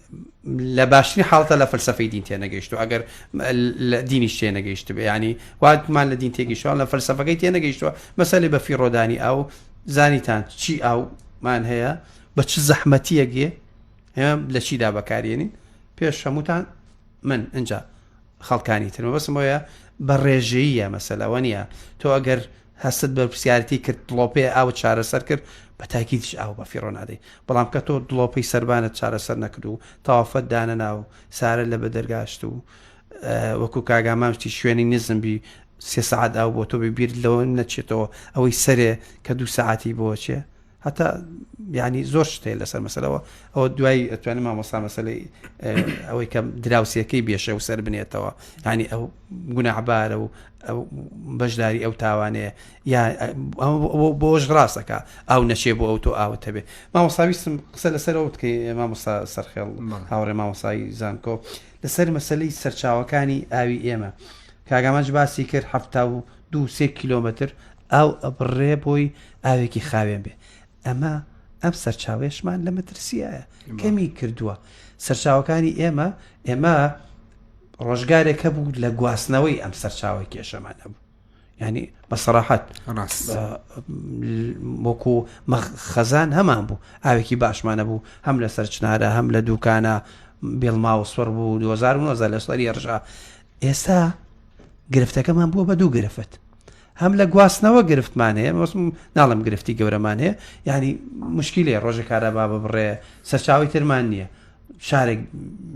لە باشترین حاڵتە لە فەلسفەی دین تێنەگەیشت و ئەگەر دینیش تێنەگەیشت بێ ینی واتمان لە دین تێگەیشتوان لە فەلسفەکەی تێنەگەیشتووە مەسەلی بە فیڕۆدانی ئەو زانیتان چی ئەومان هەیە بە چ زەحمەتیەکێ ئێمە لە چیدا بەکارێنین پێش هەمووتان من اینجا خەڵکانی ترمە بەسمەوەە بە ڕێژەیە مەسەلەوە نیە تۆ ئەگەر هەستت بەرپرسیارەتی کرد دڵۆپەیە ئاوت چارەسەر کرد بە تاکیدیش ئاو بە فیڕۆ نادەی بەڵام کە تۆ دڵۆپەی سەربانت چارەسەر نەکرد و تەوافەت دانەنا و سارە لە بەدەرگاشت و وەکو کاگامامشتی شوێنی نزم بی سێ سعات ئاو بۆ تۆ ببیرت لەوە نەچێتەوە ئەوەی سەرێ کە دوو سعاتی بۆچێ هەتا ینی زۆر شتێ لەسەر مەسەرەوە ئەوە دوای ئەتوانێت مامۆستا مەسلەی ئەوەی کە دراوسەکەی بێشە و سەر بنێتەوە ینی ئەو گوناعبارە و بەشداری ئەو تاوانەیە یا بۆش ڕاستەکە ئەو نەچێ بۆ ئەو تۆ ئاوت هەبێت مامۆساویستم قسە لەسەرەوە بکەی مامۆستا سەرخێڵ هاوڕێ مامۆسایی زانکۆ لەسەر مەسلەی سەرچاوەکانی ئاوی ئێمە کاگامانج باسی کرد هەفتا و دوو سێ کیلۆمەتر ئاو ئەبڕێ بۆی ئاوێکی خاوێن بێ ئەمە ئەم سەرچاوێشمان لە مەترسیایە کەمی کردووە سەرچاوەکانی ئێمە ئێمە ڕۆژگارێک هەبوو لە گواستنەوەی ئەم سەرچاوی کێشەمان هەبوو ینی بە سەراحەت وەکو خەزان هەمان بوو ئاوێکی باشمانە بوو هەم لە سەرچنارە هەم لە دووکانە بێڵما و سوەر بوو 2009 لە سەری ڕژا ئێستا گرفتەکەمان بووە بە دوو گرفت هەم لە گواستنەوە گرفتمان هەیە بەسم ناڵم گرفتی گەورەمان هەیە یعنی مشکلێ ڕۆژە کارەبا ببڕێ سەرچاوی ترمان نییە شارێک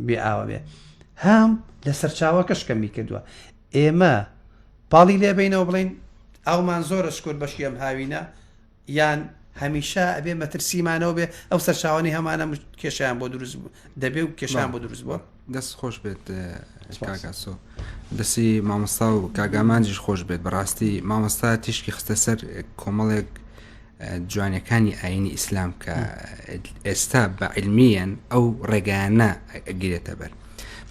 بێ ئاوە بێ هەم لە سەرچاوەکەش کەمی کردووە ئێمە پاڵی لێبینەوە بڵین ئەومان زۆرە شکر بەشی ئەم هاوینە یان هەمیشە ئەبێ مەترسی مانەوە بێ ئەو سەرچاوانی هەمانە کێشیان بۆ دروست بوو دەبێ و کێشان بۆ دروست بووە دەست خۆش بێت کاگاسۆ دەسی مامۆستا و کاگامانجیش خۆش بێت بەڕاستی مامۆستا تیشکی خستە سەر کۆمەڵێک جوانەکانی ئاینی ئیسلام کە ئێستا بە علمیەن ئەو ڕێگایانە گرێتە بەر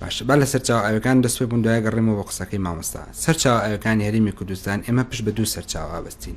باشە با لە سەرچاو ئاوەکان دەست پێ بووندای گەڕێمەوە بە قسەکەی مامۆستا سەرچاو ئاوەکانی هەرمی کوردستان ئێمە پشت بە دوو سەرچاو ئابستین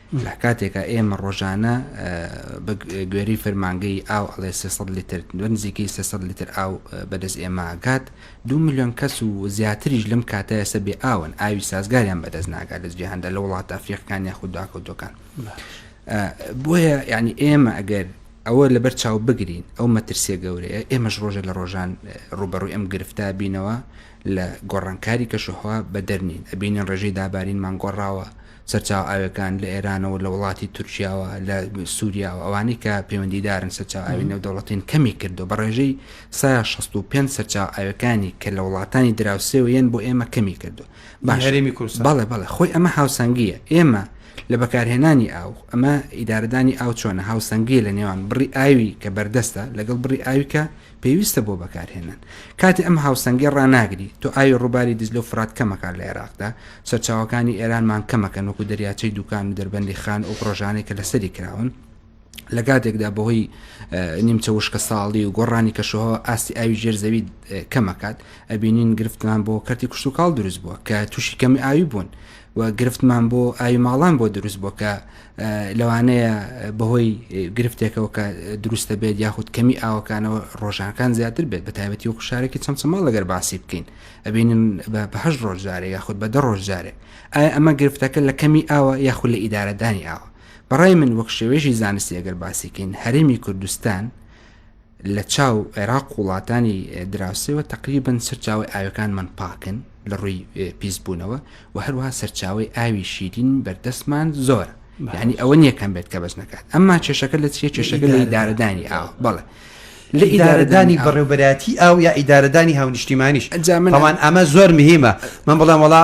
لە کاتێکا ئێمە ڕۆژانە بە گوێرەی فەرمانگەی ئاو ئەڵێ سێ سەد لیتر بە نزیکەی سێ سەد لیتر ئاو بەدەست ئێمە ئەگات، دوو ملیۆن کەس و زیاتریش لەم کاتە ئێستا بێ ئاون، ئاوی سازگاریان بەدەست ناگات لە جیهاندا لە وڵاتە ئەفریقیەکان یاخود دواکەوتووەکان. بۆیە یانی ئێمە ئەگەر ئەوە لەبەر چاو بگرین ئەو مەترسیە گەورەیە ئێمەش ڕۆژە لە ڕۆژان ڕوبەڕووی ئەم گرفتا بینەوە لە گۆڕانکاری کەشوهوا بەدەرنین ئەبینین ڕێژەی دابارینمان گۆڕاوە سەرچاوە ئاویەکان لە ئێرانەوە لە وڵاتی تورکیاوە لە سووریاوە ئەوانەی کە پەیوەندیدارن سەرچاو ئاوی نێودەوڵەتین کەمی کردو بە ڕێژەی سا 65 سەرچاو ئاویەکانی کە لە وڵاتانی دراوسێوە یەن بۆ ئێمە کەمی کردو باشەرێمی کورس بەڵێ بەڵێ خۆی ئەمە هاوسەنگیە ئێمە لە بەکارهێنانی ئاو ئەمە ئیدارەدانی ئاو چۆنە هاوسەنگی لە نێوان بڕی ئاوی کە بەردەستە لەگەڵ بڕی ئاوی کە پێویستە بۆ بەکارهێنان. کاتی ئەم هاوسەنگیە ڕاناگری، تۆ ئاوی ڕووباری دیجلە و فرات کەمەکات لە عێراقدا، سەرچاوەکانی ئێرانمان کەمەکەن وەکو دەریاچەی دوکان و دەربەندی خان ئەو پڕۆژانەی کە لەسەری کراون، لە کاتێکدا بەهۆی نیمچە وشکەساڵی و گۆڕانی کەشوهەوا ئاستی ئاوی ژێر زەوی کەمەکات، ئەبینین گرفتمان بۆ کەرتی کشتوکاڵ دروست بووە کە تووشی کەمی ئاوی بوون. و گرفتمان بۆ ئاوی ماڵان بۆ دروست بۆ کە لەوانەیە بەهۆی گرفتێکەوە کە دروستە بێت یاخود کەمی ئاوەکانەوە ڕۆژانەکان زیاتر بێت بە تایبەتی و خوشارێکی چەمچەماڵ لەگەر باسی بکەین ئەبینن بەهش ڕۆژجارێ یاخود بە دە ڕۆژجارێ ئایا ئەمە گرفتەکە لە کەمی ئاوە یاخود لە ئیدارەدانی ئاوە بەڕای من وەک شێوێژی زانستی ئەگەر باسیکەین هەرێمی کوردستان لە چاو عێراق وڵاتانی دراوسێوە تەقریبەن سەرچاوەی ئاوەکانمان پاکن لە ڕووی پیسبوونەوە و هەروها سەرچاوەی ئاوی شیرین بەردەستمان زۆر یعنی ئەوە نیەکەم بێت کە بەس نکات ئەمما چێشەکە لە چیە چێشەکە لە ئیدارەدانی ئاو بەڵێ لە ئیدارەدانی بەڕێوبەراتی ئاو یا ئیدارەدانی هاونیشتیمانیش ئەنجامەوان ئەمە زۆر مهمە من بڵێم وڵا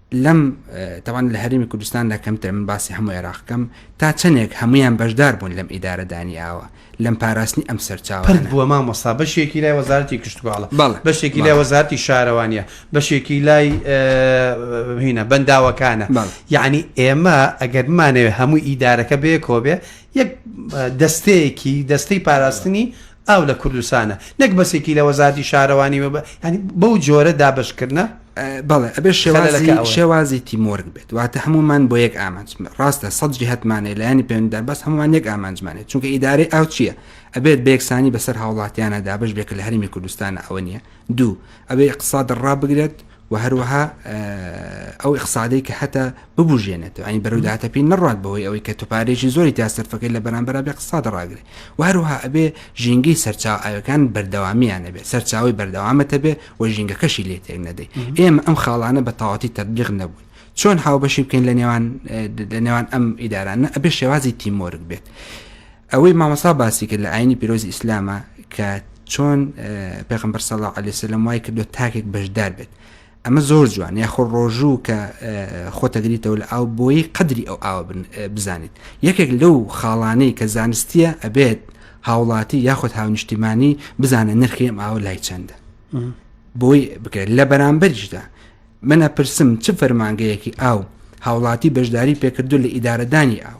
لەم تاوان لە هەرێمی کوردستاندا کەمترە من باسی هەموو عێراقکەم تا چەندێک هەمویان بەشدار بوون لەم ئیدارە دانی ئاوە لەم پاراستنی ئەم سەرچاوە پرد بووە مامۆستا بەشێکی لای وەزارەتی کشتوکاڵە بەشێکی لای وەزارتی شارەوانە بەشێکی لای هینە بەنداوەکانە یعنی ئێمە ئەگەر مانەوێ هەموو ئیدارەکە بێ کۆبێ یەک دەستەیەکی دەستەی پاراستنی ئاو لە کوردستانە نەک بەسێکی لە وەزارەتی شارەوانی و یانی بەو جۆرە دابەشکردنە بەڵێ ئەبێ شێوازی شێوازی تیمۆرگ بێت واتە هەمومان بۆ یەک ئامانج ڕاستە سەد جیهتمانێ لایانی پێندا بەس هەمووان یەک ئامانجمانێت چونکە ئیدارەی ئاو چییە ئەبێت بەیەکسانی بەسەر هاوڵاتیانە دابش بێک لە هەرمی کوردستانە ئەوە نییە دوو ئەبێ اقتصاد ڕابگرێت و هەروەها ئەو اقتصادی کە هەتا ببژێنێتەوە ئەین بەرەو داهاتەپی نڕات بەوەی ئەوەی کە توپارێکی زۆری تا سەرفەکەی لە بەرامبەر بە قساد ڕاگرێ و هەروها ئەبێ ژینگەی سەرچاو ئاوەکان بەردەوامیان نەبێت سەرچاوی بەردەوامەتە بێ و ژینگەکەشی لێ تێک نەدەی ئێمە ئەم خاڵانە بە تەواتی تەبلیغ نەبوون چۆن هاوبەشی بکەین لە نێوان لە نێوان ئەم ئیدارانە ئەبێ شێوازی تیمۆرگ بێت. ئەوەی مامۆستا باسی کرد لە ئاینی پیرۆزی ئیسلامە کە چۆن پێغمبەر سەڵا علی سلم وای کردو تاکێک بەشدار بێت ئەمە زۆر جوان یاخۆ ڕۆژوو کە خۆتەگریتەوە لە ئاو بۆی قدری ئەو ئاوە بزانیت یەکێک لەو خاڵانەی کە زانستیە ئەبێت هاوڵاتی یاخود هاونیشتیمانی بزانە نرخی ئەم ئاوە لای چەندە بۆی بکرێت لە بەرامبەریشدا منە پرسم چ فەرمانگەیەکی ئاو هاوڵاتی بەشداری پێکردو لە ئیدارەدانی ئاو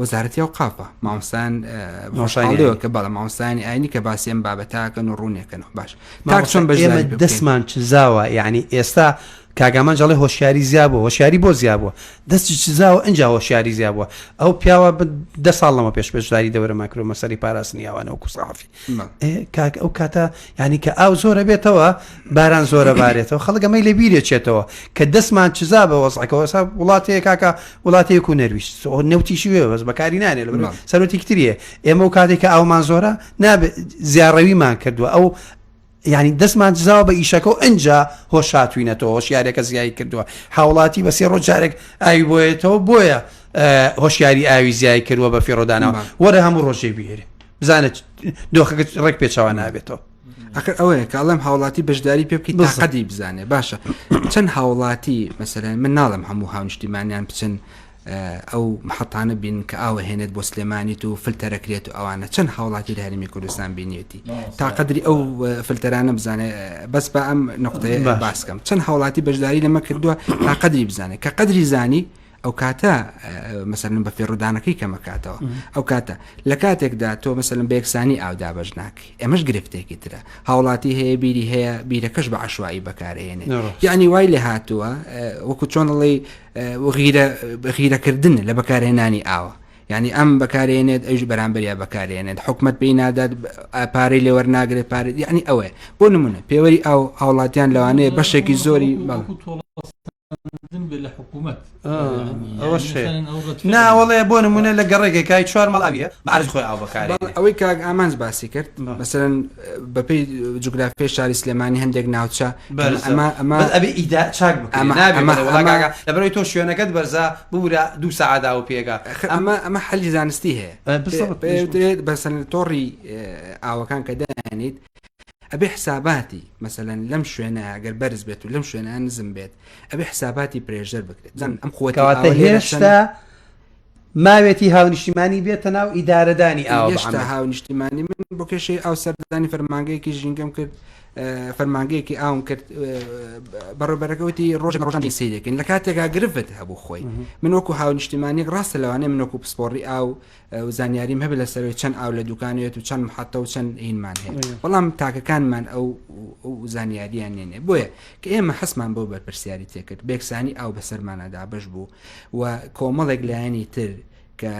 وەزارەتی ئەوقافە مامۆستایان مامۆستایانی ئاینی. باشەوە کە بەڵە مامۆستایانی ئاینی کە باسی ئەم بابەتاکەن و ڕوونێکەنەوە باش تاک چۆن بە ئێمە بەشداری دەستمان چزاوە یعنی ئێستا کاگامان جەڵی هۆشیاری زیاب بوو هۆشیاری بۆ زیاب بووە دەستی چزاوە ئەجا هۆشیاری زیاب بووە ئەو پیاوە ب- دە ساڵ لەمە پێش پێشداری دەورە ماکرۆمەسەری پاراستنی ئەوانە و کوسەحافی کاک ئەو کاتە ینی کە ئاو زۆرە بێتەوە باران زۆرە بارێتەوە خەڵگەمەی لە بیرێ چێتەوە کە دەستمان چزا بە وەزعەکەەوە سا وڵاتەیە کاکە وڵاتێک و نەرویست نەوتیشی وێ بەس بەکاری نانێ لە سەرەتیکتریە ئێمە و کاتێک کە ئاومان زۆرە نابێت زیاڕەویمان کردووە ئەو یانی دەستمان دزاوە بە ئیشەکە و ئەجا هۆ شاتوینەتەوە هۆشیارەکە زیایی کردووە هاوڵاتی بە سێ ڕۆژارێک ئاوی بۆیەتەوە بۆیە هۆشیاری ئاوی زیای کردووە بە فێڕۆدانەوە وەرە هەموو ڕۆژێ بێرێ بزانە دۆخەکە ڕێک پێچەوە نابێتەوە ئەخر ئەوەیە کاڵم هاوڵاتی بەشداری پێ بکەیت بەسەدی بزانێ باشە چەند هاوڵاتی مەسەرەن من ناڵم هەموو هاونیشتیمانیان بچن ئەو محەتانە بینن کە ئاو ئەهێنێت بۆ سلێمانیت و فلتەرەکرێت و ئەوانە چەند هاوڵاتی لە هەرمی کوردستان بینیەتی تا قدری ئەو فلتەرانە بزانێت بەس بە ئەم نقطەیە باسکەم چەند هاوڵاتی بەشداری لەمە کردووە تا قدری بزانێت کە قدری زانی ئەو کاتە مەسەرن بە فێڕودانەکەی کەمەکاتەوە ئەو کاتە لە کاتێکدا تۆ مەسەلم بەێکسانی ئاودا بەش ناکەی ئەمەش گرفتێکی ترە هاوڵاتی هەیە بیری هەیە بیرەکەش بە عشوایی بەکارێنێ یعنی وای لێ هاتووە وەکو چۆنڵی غیرەکردن لە بەکارهێنانی ئاوە ینی ئەم بەکارێنێت ئەوش بەرامبەریا بەکارێنێت حکومت پێی نادات پارەی لێوەر ناگرێت پارێت ینی ئەوەیە بۆ نمونە پێوەری ئەو هاوڵاتیان لەوانەیە بەشێکی زۆری لە حکوومەت ناوەڵێ بۆ نمونە لە گەڕێکێکای چوار مەڵاویە بەعرز خۆی ئاو بەکار ئەوەی کاک ئامانج باسی کرد بەسەرن بەپێی جوگرافیای شاری سلێمانی هەندێک ناوچە لەبەرەوەی تۆ شوێنەکەت بەرزە ببورە دوو سەعادا و پێگا ئەمە ئەمە حەلی زانستی هەیە پێدرێت بەسەن تۆڕی ئاوەکان کە دەیانیت ئەبێ حساباتی مەسەەن لەم شوێنە گەر بەرز بێت و لەم شوێنە نزم بێت ئەبێ حساباتی پرێژەر بکرێت ئەم خۆتەواتە هێشتا ماوێتی هاونیشتیمانی بێتە ناو ئیدارەدانی ئاو هێشتا هاونیشتیمانی من بۆ کێشەی ئاو سەردانی فەرمانگەیەکی ژینگەم کرد فەرمانگەیەکی ئاوم کرد بەڕێبەرەکەوتی ڕۆژن ڕۆژانی سیرێکن لە کاتێکا گرفت هەبوو خۆی من وەکو هاونیشتیمانی ڕاستە لەوانەیە منۆکو پسپۆڕی ئاو و زانیاریم هەبێت لەسەرەوەی چەند ئاو لە دوکانێت و چەند مححتە و چەند هینمان هەیە بەڵام تاکەکانمان ئەو زانیاریان نێنێ بۆیە کە ئێمە حەسمان بۆ بەرپرسیاری تێکرد بێکسانی ئاو بەسەرمانەدا بەش بوو و کۆمەڵێک لایەنی تر کە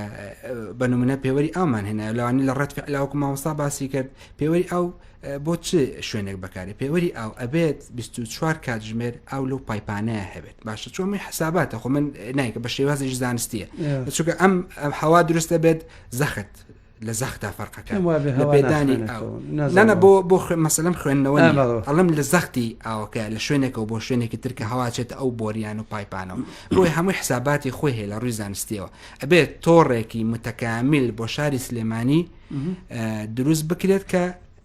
بە نمونە پێوەری ئامان هێنا لەوانی لە ڕەت فعلاوەکو مامۆستا باسی کرد پێوەری ئەو بۆ چ شوێنێک بەکارێ پێوەری ئاو ئەبێت 24 کاتژمێر ئاو لەو پایپانەیە هەبێت باشە چۆمی حساباتە خۆ من نایکە بە شێوازیش زانستیە چونکە ئەم ئەم حوا دروستە بێت زەخت لە زەختا فەرقەکە لە پێدانی نانە بۆ بۆ مەسلم خوێندنەوە ئەڵم لە زەختی ئاوەکە لە شوێنێکەوە بۆ شوێنێکی ترکە هەواچێت ئەو بۆریان و پایپانەوە بۆی هەمووی حساباتی خۆی هەیە لە ڕووی زانستیەوە ئەبێت تۆڕێکی متەکامیل بۆ شاری سلێمانی دروست بکرێت کە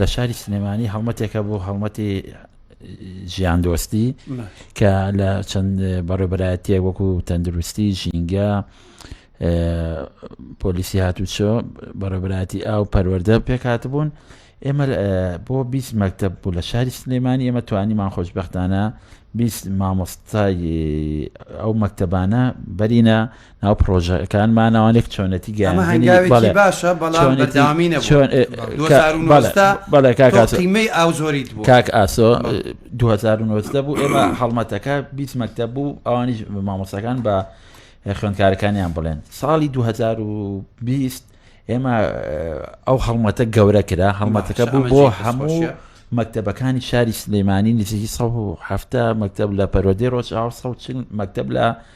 لە شاری سلێمانی هەڵمەتێکە بۆ هەڵمەتی ژیان دۆستی کە لە چەند بەڕێبەرایەتە وەکو تەندروستی ژینگە پۆلیسی هاتوچۆ بەڕێبراتی ئاو پەروەەردە پێکات بوون ئێمە بۆ بیست مەکتب بوو لە شاری سلێمانی ئێمە توانیمان خۆشببختانە بیست مامۆستای ئەو مەکتتەبانە بەرینە ناو پرۆژەکان ماناوانێک چۆنەتی گەیاندنی باشە بەڵام بەرداوامینە چۆن بەڵێ کاکاسیمەی ئاو زۆریت بوو کاک ئاسۆ 2009 بوو ئێمە هەڵمەتەکە بیست مەکتە بوو ئەوانیش مامۆسەکان بە خوێندکارەکانیان بڵێن ساڵی 2020 ئێمە ئەو هەڵمەتە گەورە کرا هەڵمەتەکە بوو بۆ هەموو مەکتتەبەکانی شاری سلەیمانی نزیکی 1970 مەکتب لە پەرۆدەی ڕۆژ ئاو 1940 مەکتب لە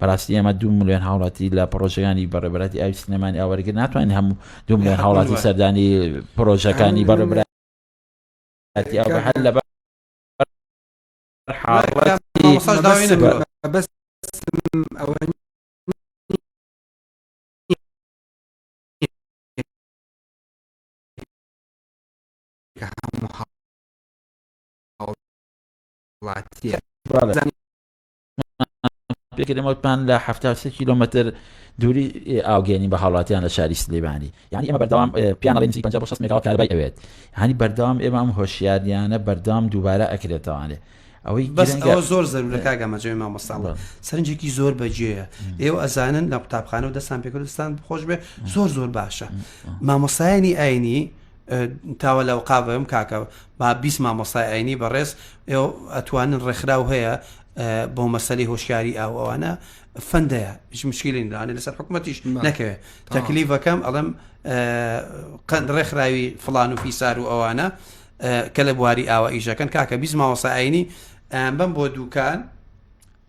بەراستی ئێمە دوو ملیۆن هاوڵاتی لە پڕۆژەکانی بەڕێبەراتی ئاوی سلێمانی ئاوەرگر ناتوانین هەموو دوو ملیۆن هاوڵاتی سەردانی پرۆژەکانی بەڕێبرا لە بەس ئەوە هەموو هاوڵاتیە پێکرێ مەوتمان لە حەفتا و سێ کیلۆمەتر دووری ئاوگێنی بە هاوڵاتیان لە شاری سلێمانی یعنی ئێمە بەردەوام پیانەڵی نزیک پەنجا بۆ شەست مێگاوات کارەبای ئەوێت هەنی بەردەوام ئێمە ئەم هۆشیارییانە بەردەوام دووبارە ئەکرێتەوانێ ئەوەی بەس گرنگە- ئەوە زۆر زەرورە کاک ئەمەجۆی مامۆستا بە. سەرنجێکی زۆر بەجێیە ئێوە ئەزانن لە قوتابخانە و دەستان پێکردستان خۆش بێ زۆر زۆر باشە مامۆستایانی ئاینی تاوە لە قاڤم کاکە با بیست مامۆستای ئاینی بەڕێز ئەتوانن ڕێکخراو هەیە بۆ مەسەی هۆشیاری ئاو ئەوانە فەندەیە هیچ مشکلینرانێ لەسەر حکوومەتیش نەکەوێت تەکلیڤەکەم ئەڵم قەند ڕێکخراوی فلان و فیسار و ئەوانە کە لە بواری ئاوە ئیشەکەن کاکە بیست مامۆستا ئاینی بم بۆ دوکان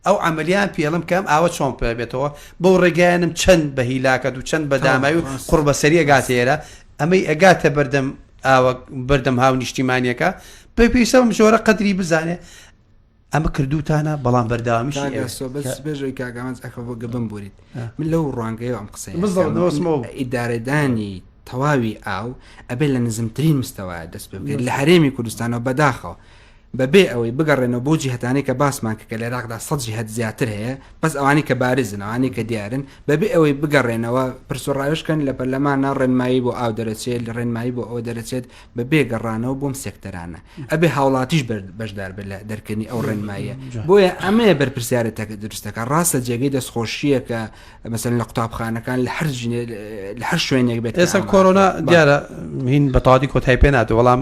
ئەو عەملیان پێڵم کەم ئاوە چۆن پێ بێتەوە بەو ڕێگایانم چەند بە هیلاکەت و چەند بە داماوی و قوڕبەسەری ئەگاتە ئێرە ئەمەی ئەگاتە بەردەم ئاوە بەردەم هاونیشتیمانیەکە پێ پێویستە بەم جۆرە قەدری بزانێ ئەمە کردوتانە بەڵام بەرداوامیش بێژۆی کاگەمانز ئەخە بۆ گەبم بوریت من لەو ڕوانگەیەوە ئەم قسەی ئیدارەدانی تەواوی ئاو ئەبێ لە نزمترین مستەوە دەست پێ بکرێت لە هەرێمی کوردستانەوە بەداخەوە بە بێ ئەوەی بگەڕێنەوە بەو جیهەتانەی کە باسمان کرد کە لە عێراقدا سەد جیهەت زیاتر هەیە بەس ئەوانەی کە بارزن ئەوانەی کە دیارن بە بێ ئەوەی بگەڕێنەوە پرس و ڕاوێژ کەن لە پەرلەمانا ڕێنمایی بۆ ئاو دەرەچێت لە ڕێنمایی بۆ ئەوە دەرەچێت بە بێ گەڕانەوە بۆم سێکتەرانە ئەبێ هاوڵاتیش بەشدار بێت لە دەرکردنی ئەو ڕێنماییە بۆیە ئەمەیە بەرپرسیارە تەکە دروستەکە ڕاستە جێگەی دەستخۆشیە کە مەسەن لە قوتابخانەکان لە هەر لە هەر شوێنێک بێت ئێستا کۆرۆنا دیارە هین بەتاادی کۆتای پێ ناتێ وەڵام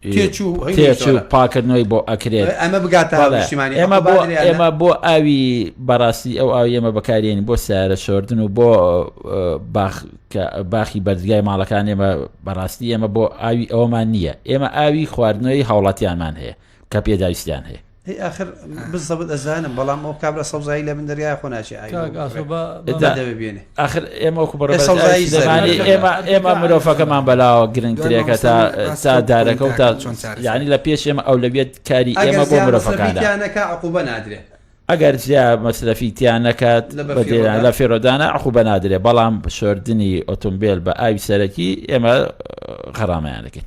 تێچوو پاکردنەوەی بۆ ئەکرێت ئەمە بگاتە ئێمە بۆ ئێمە بۆ ئاوی بەڕاستی ئەو ئاو ئێمە بەکارێن بۆ سارە شۆردن و بۆ باخی بەرزگای ماڵەکان ئێمە بەڕاستی ئێمە بۆ ئاوی ئەومان نییە ئێمە ئاوی خواردنەوەی هاوڵاتیانمان هەیە کە پێداویستیان هەیە هەی ئاخر بزەبت ئەزانم بەڵام ئەو کابرا سەوزایی لە من دەریای خۆ ناچێ بێنێ ئاخر ئێمە وەکو بەڕێ سەوزایی زمانی ئێمە ئێمە مرۆڤەکەمان بەلاوە گرنگترێکە تا تا دارەکە و تا چۆن یعنی لە پێش ئێمە ئەو لە بێت کاری ئێمە بۆ مرۆڤەکانەکە عقوبە نادرێ ئەگەر جیا مەسرەفی تیان نەکات لە فێرۆدانە عقو بە نادرێ بەڵام شۆردنی ئۆتۆمبیل بە ئاوی سەرەکی ئێمە خەرامەیان دەکەین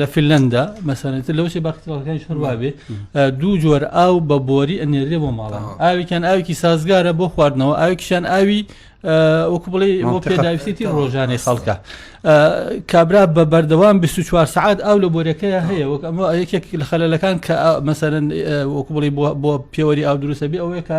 لە فیلەندا مەسەنێت لەو سێ باکترالەکانیش هەروابێ دوو جۆر ئاو بە بۆری ئەنێرێ بۆ ماڵە ئاوێکیان ئاوێکی سازگارە بۆ خواردنەوە ئاوێکیان ئاوی وەکو بڵێ بۆ پێداویستی ڕۆژانەی خەڵکە کابرا بە بەردەوام 24 سعات ئاو لە بۆرەکەی هەیە وەک ئەمە یەکێک لە خەلەکان کە مەسەرەن وەکو بڵی بۆ پێوەری ئاو دروستە بێ ئەوەیە کە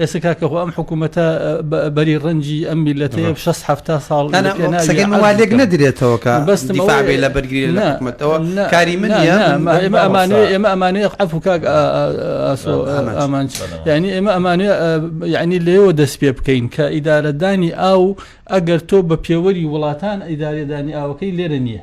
ئێستا کاکە خۆ ئەم حکوومەتە بەری ڕەنجی ئەم میلەتەیە شەست هەفتا ساڵ لێک نەدرێتەوە کە بەستم لە بەرگری لە حکومەتەوە کاری من ئێمە ئەمانێ ئێمە ئەمانەیە عەف و کاک ئامان ینی ئێمە ئەمانێ یعنی لێەوە دەست پێ بکەین کە ئیدارەدانی ئاو ئەگەر تۆ بە پێوەری وڵاتان ئیدارەدانی ئاوەکەی لێرە نییە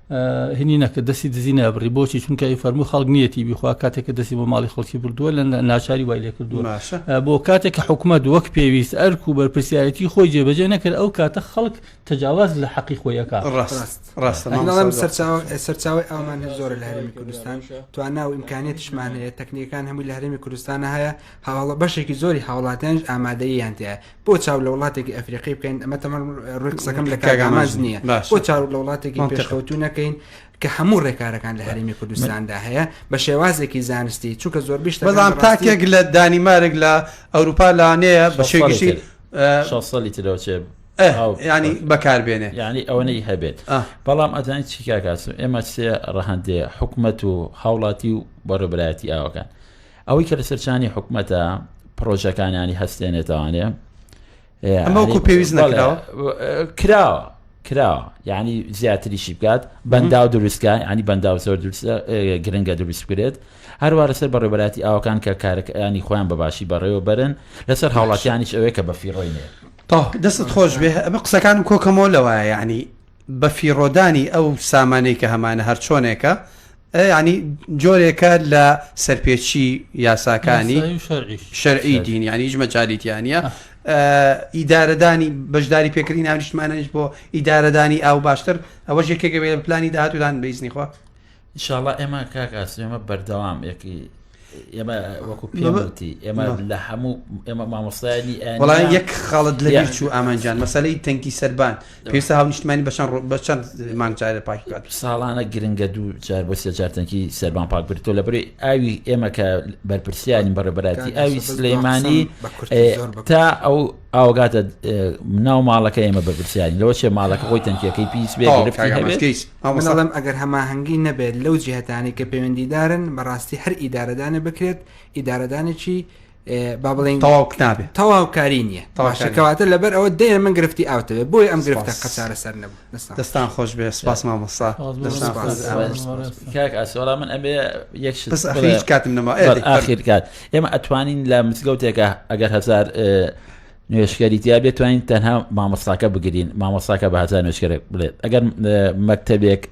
هینی نەکرد دەستی دزی نابڕی بۆچی چونکە ئەی فەرمو خەڵک نیەتی بخوا کاتێک کە دەستی بۆ ماڵی خەڵکی بردووە لە ناچاری وای لێ کردووە بۆ کاتێک کە حکوومەت وەک پێویست ئەرک و بەرپسیارەتی خۆی جێبەجێ نەکرد ئەو کاتە خەڵک تەجاواز لە حەقی خۆیەکە سەرچاوی ئەومان هەر زۆر لە هەرمی کوردستان توانا و ئیمکانێتشمان هەیە تەکنیەکان هەمووی لە هەرمی کوردستانە هەیە هاوڵە بەشێکی زۆری هاوڵاتیانش ئامادەیان تێ بۆ چاو لە وڵاتێکی ئەفریقی بکەین ئەمە تەمان ڕووی قسەکەم لە کاگاماز نییە بۆ چاو لە وڵاتێکی پێشکەوتو نەکەین کە هەموو ڕێکارەکان لە هەرێمی کوردستاندا هەیە بە شێوازێکی زانستی چونکە زۆر بیشت بەڵام تاکێک لە دانیمارێک لە ئەوروپا لانەیە بە شێگیشی ساڵی ترەوچێ ینی بەکاربێنێ ینی ئەوەی هەبێت بەڵام ئەزانانی چیکاکاسم ئێمە سێ ڕەهندێ حکومت و هاوڵاتی و بەڕێبراتی ئاوەکان ئەوەی کە لەسەر چانی حکومەتە پرۆژەکانیانی هەستێنێتوانێ ئەمەکو پێویست نەکراوە کراوە کراوە ینی زیاتریشی بکات بەندا و دروستکە ینی بەندا و زۆر گرنگە دروست بکرێت هەروە لەسەر بەڕێبەتی ئاوکان کە کارەکانی خۆیان بەباشی بەڕێوە بەرن لەسەر هاوڵاتیانیش ئەوەیە کە بەفیڕۆینێ دەستت خۆش بێ ئەمە قسەکانم کۆکەمەوە لەوایە ینی بەفیڕۆدانی ئەو سامانەی کە هەمانە هەرچۆنێکە یعنی جۆرێکە لە سەرپێچی یاساکانی شەرعی دین یعنی هیچ مەجالیتیانە ئیدارەدانی بەشداری پێکردین ناونیشتمانەش بۆ ئیدارەدانی ئاو باشتر ئەوە ژێکێکەوێت پلانی داهاتودان بیزنیخوا انشاءاللە ئێمە کاک ئاسم ئێمە بەردەوام یەکی ئێمە وەکو پێوتی ئێمە لە هەموو ئێمە مامۆستایانی وڵان یەک خاڵت لە بیر چوو ئامانجان مەسلەی تەنکی سەربان پێسا هاو نیشتمانی بەچەند ڕۆ بە چەند مانگجارە پاکات ساڵانە گرنگە دوو جار بۆ سێجارتەنکی سەربان پاک برتۆ لە بری ئاوی ئێمە کە بەرپرسیانی بەڕێبەتی ئاوی سلەیمانی تا ئەو ئاوگاتە ناو ماڵەکە ئێمە بەرپرسیانی لەوە چێ ماڵەکە خۆی تەنکیەکەی پیس بێ گرفتی هەبێت من ئەڵێم ئەگەر هەماهەنگی نەبێت لەو جیهتانەی کە پەیوەندیدارن بەڕاستی هەر ئیدارەدانە بکرێت ئیدارەدانێکی با بڵین تەواو قوتابێ تەواوکاری نییە تەواشەکەواتە لەبەر ئەوە دێ من گرفتی ئاوتەوێ بۆی ئەم گرفتە قەسارە سەر نەبوو دەستان خۆش بێ سپاس مامۆستا ئاسۆرا من ئەبێ یەک هیچ کاتم نەما ئاخیر کات ئێمە ئەتوانین لە مزگەوتێکە ئەگەر هزار نوێژکەری تیابێت توانین تەنها مامۆستاکە بگرین مامۆستاکە بە هزار نوێژکەر بڵێت ئەگەر مەکتتەبێک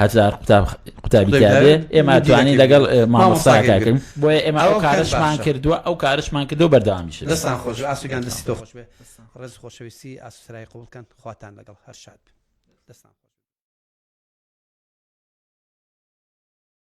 هزار قوتابی تیاێ ئێمە توانین لەگەڵ مامۆستاکەکەن بۆیە ئێمە ئەو کارشمان کردووە ئەو کارشمان کردو بەردامیش دەستان خۆش ئاسوگان دەستی تۆ خۆش بێ ڕێز خۆشەویستی ئاسوسرای قوڵکەن خواتان لەگەڵ هەر شاد دەستان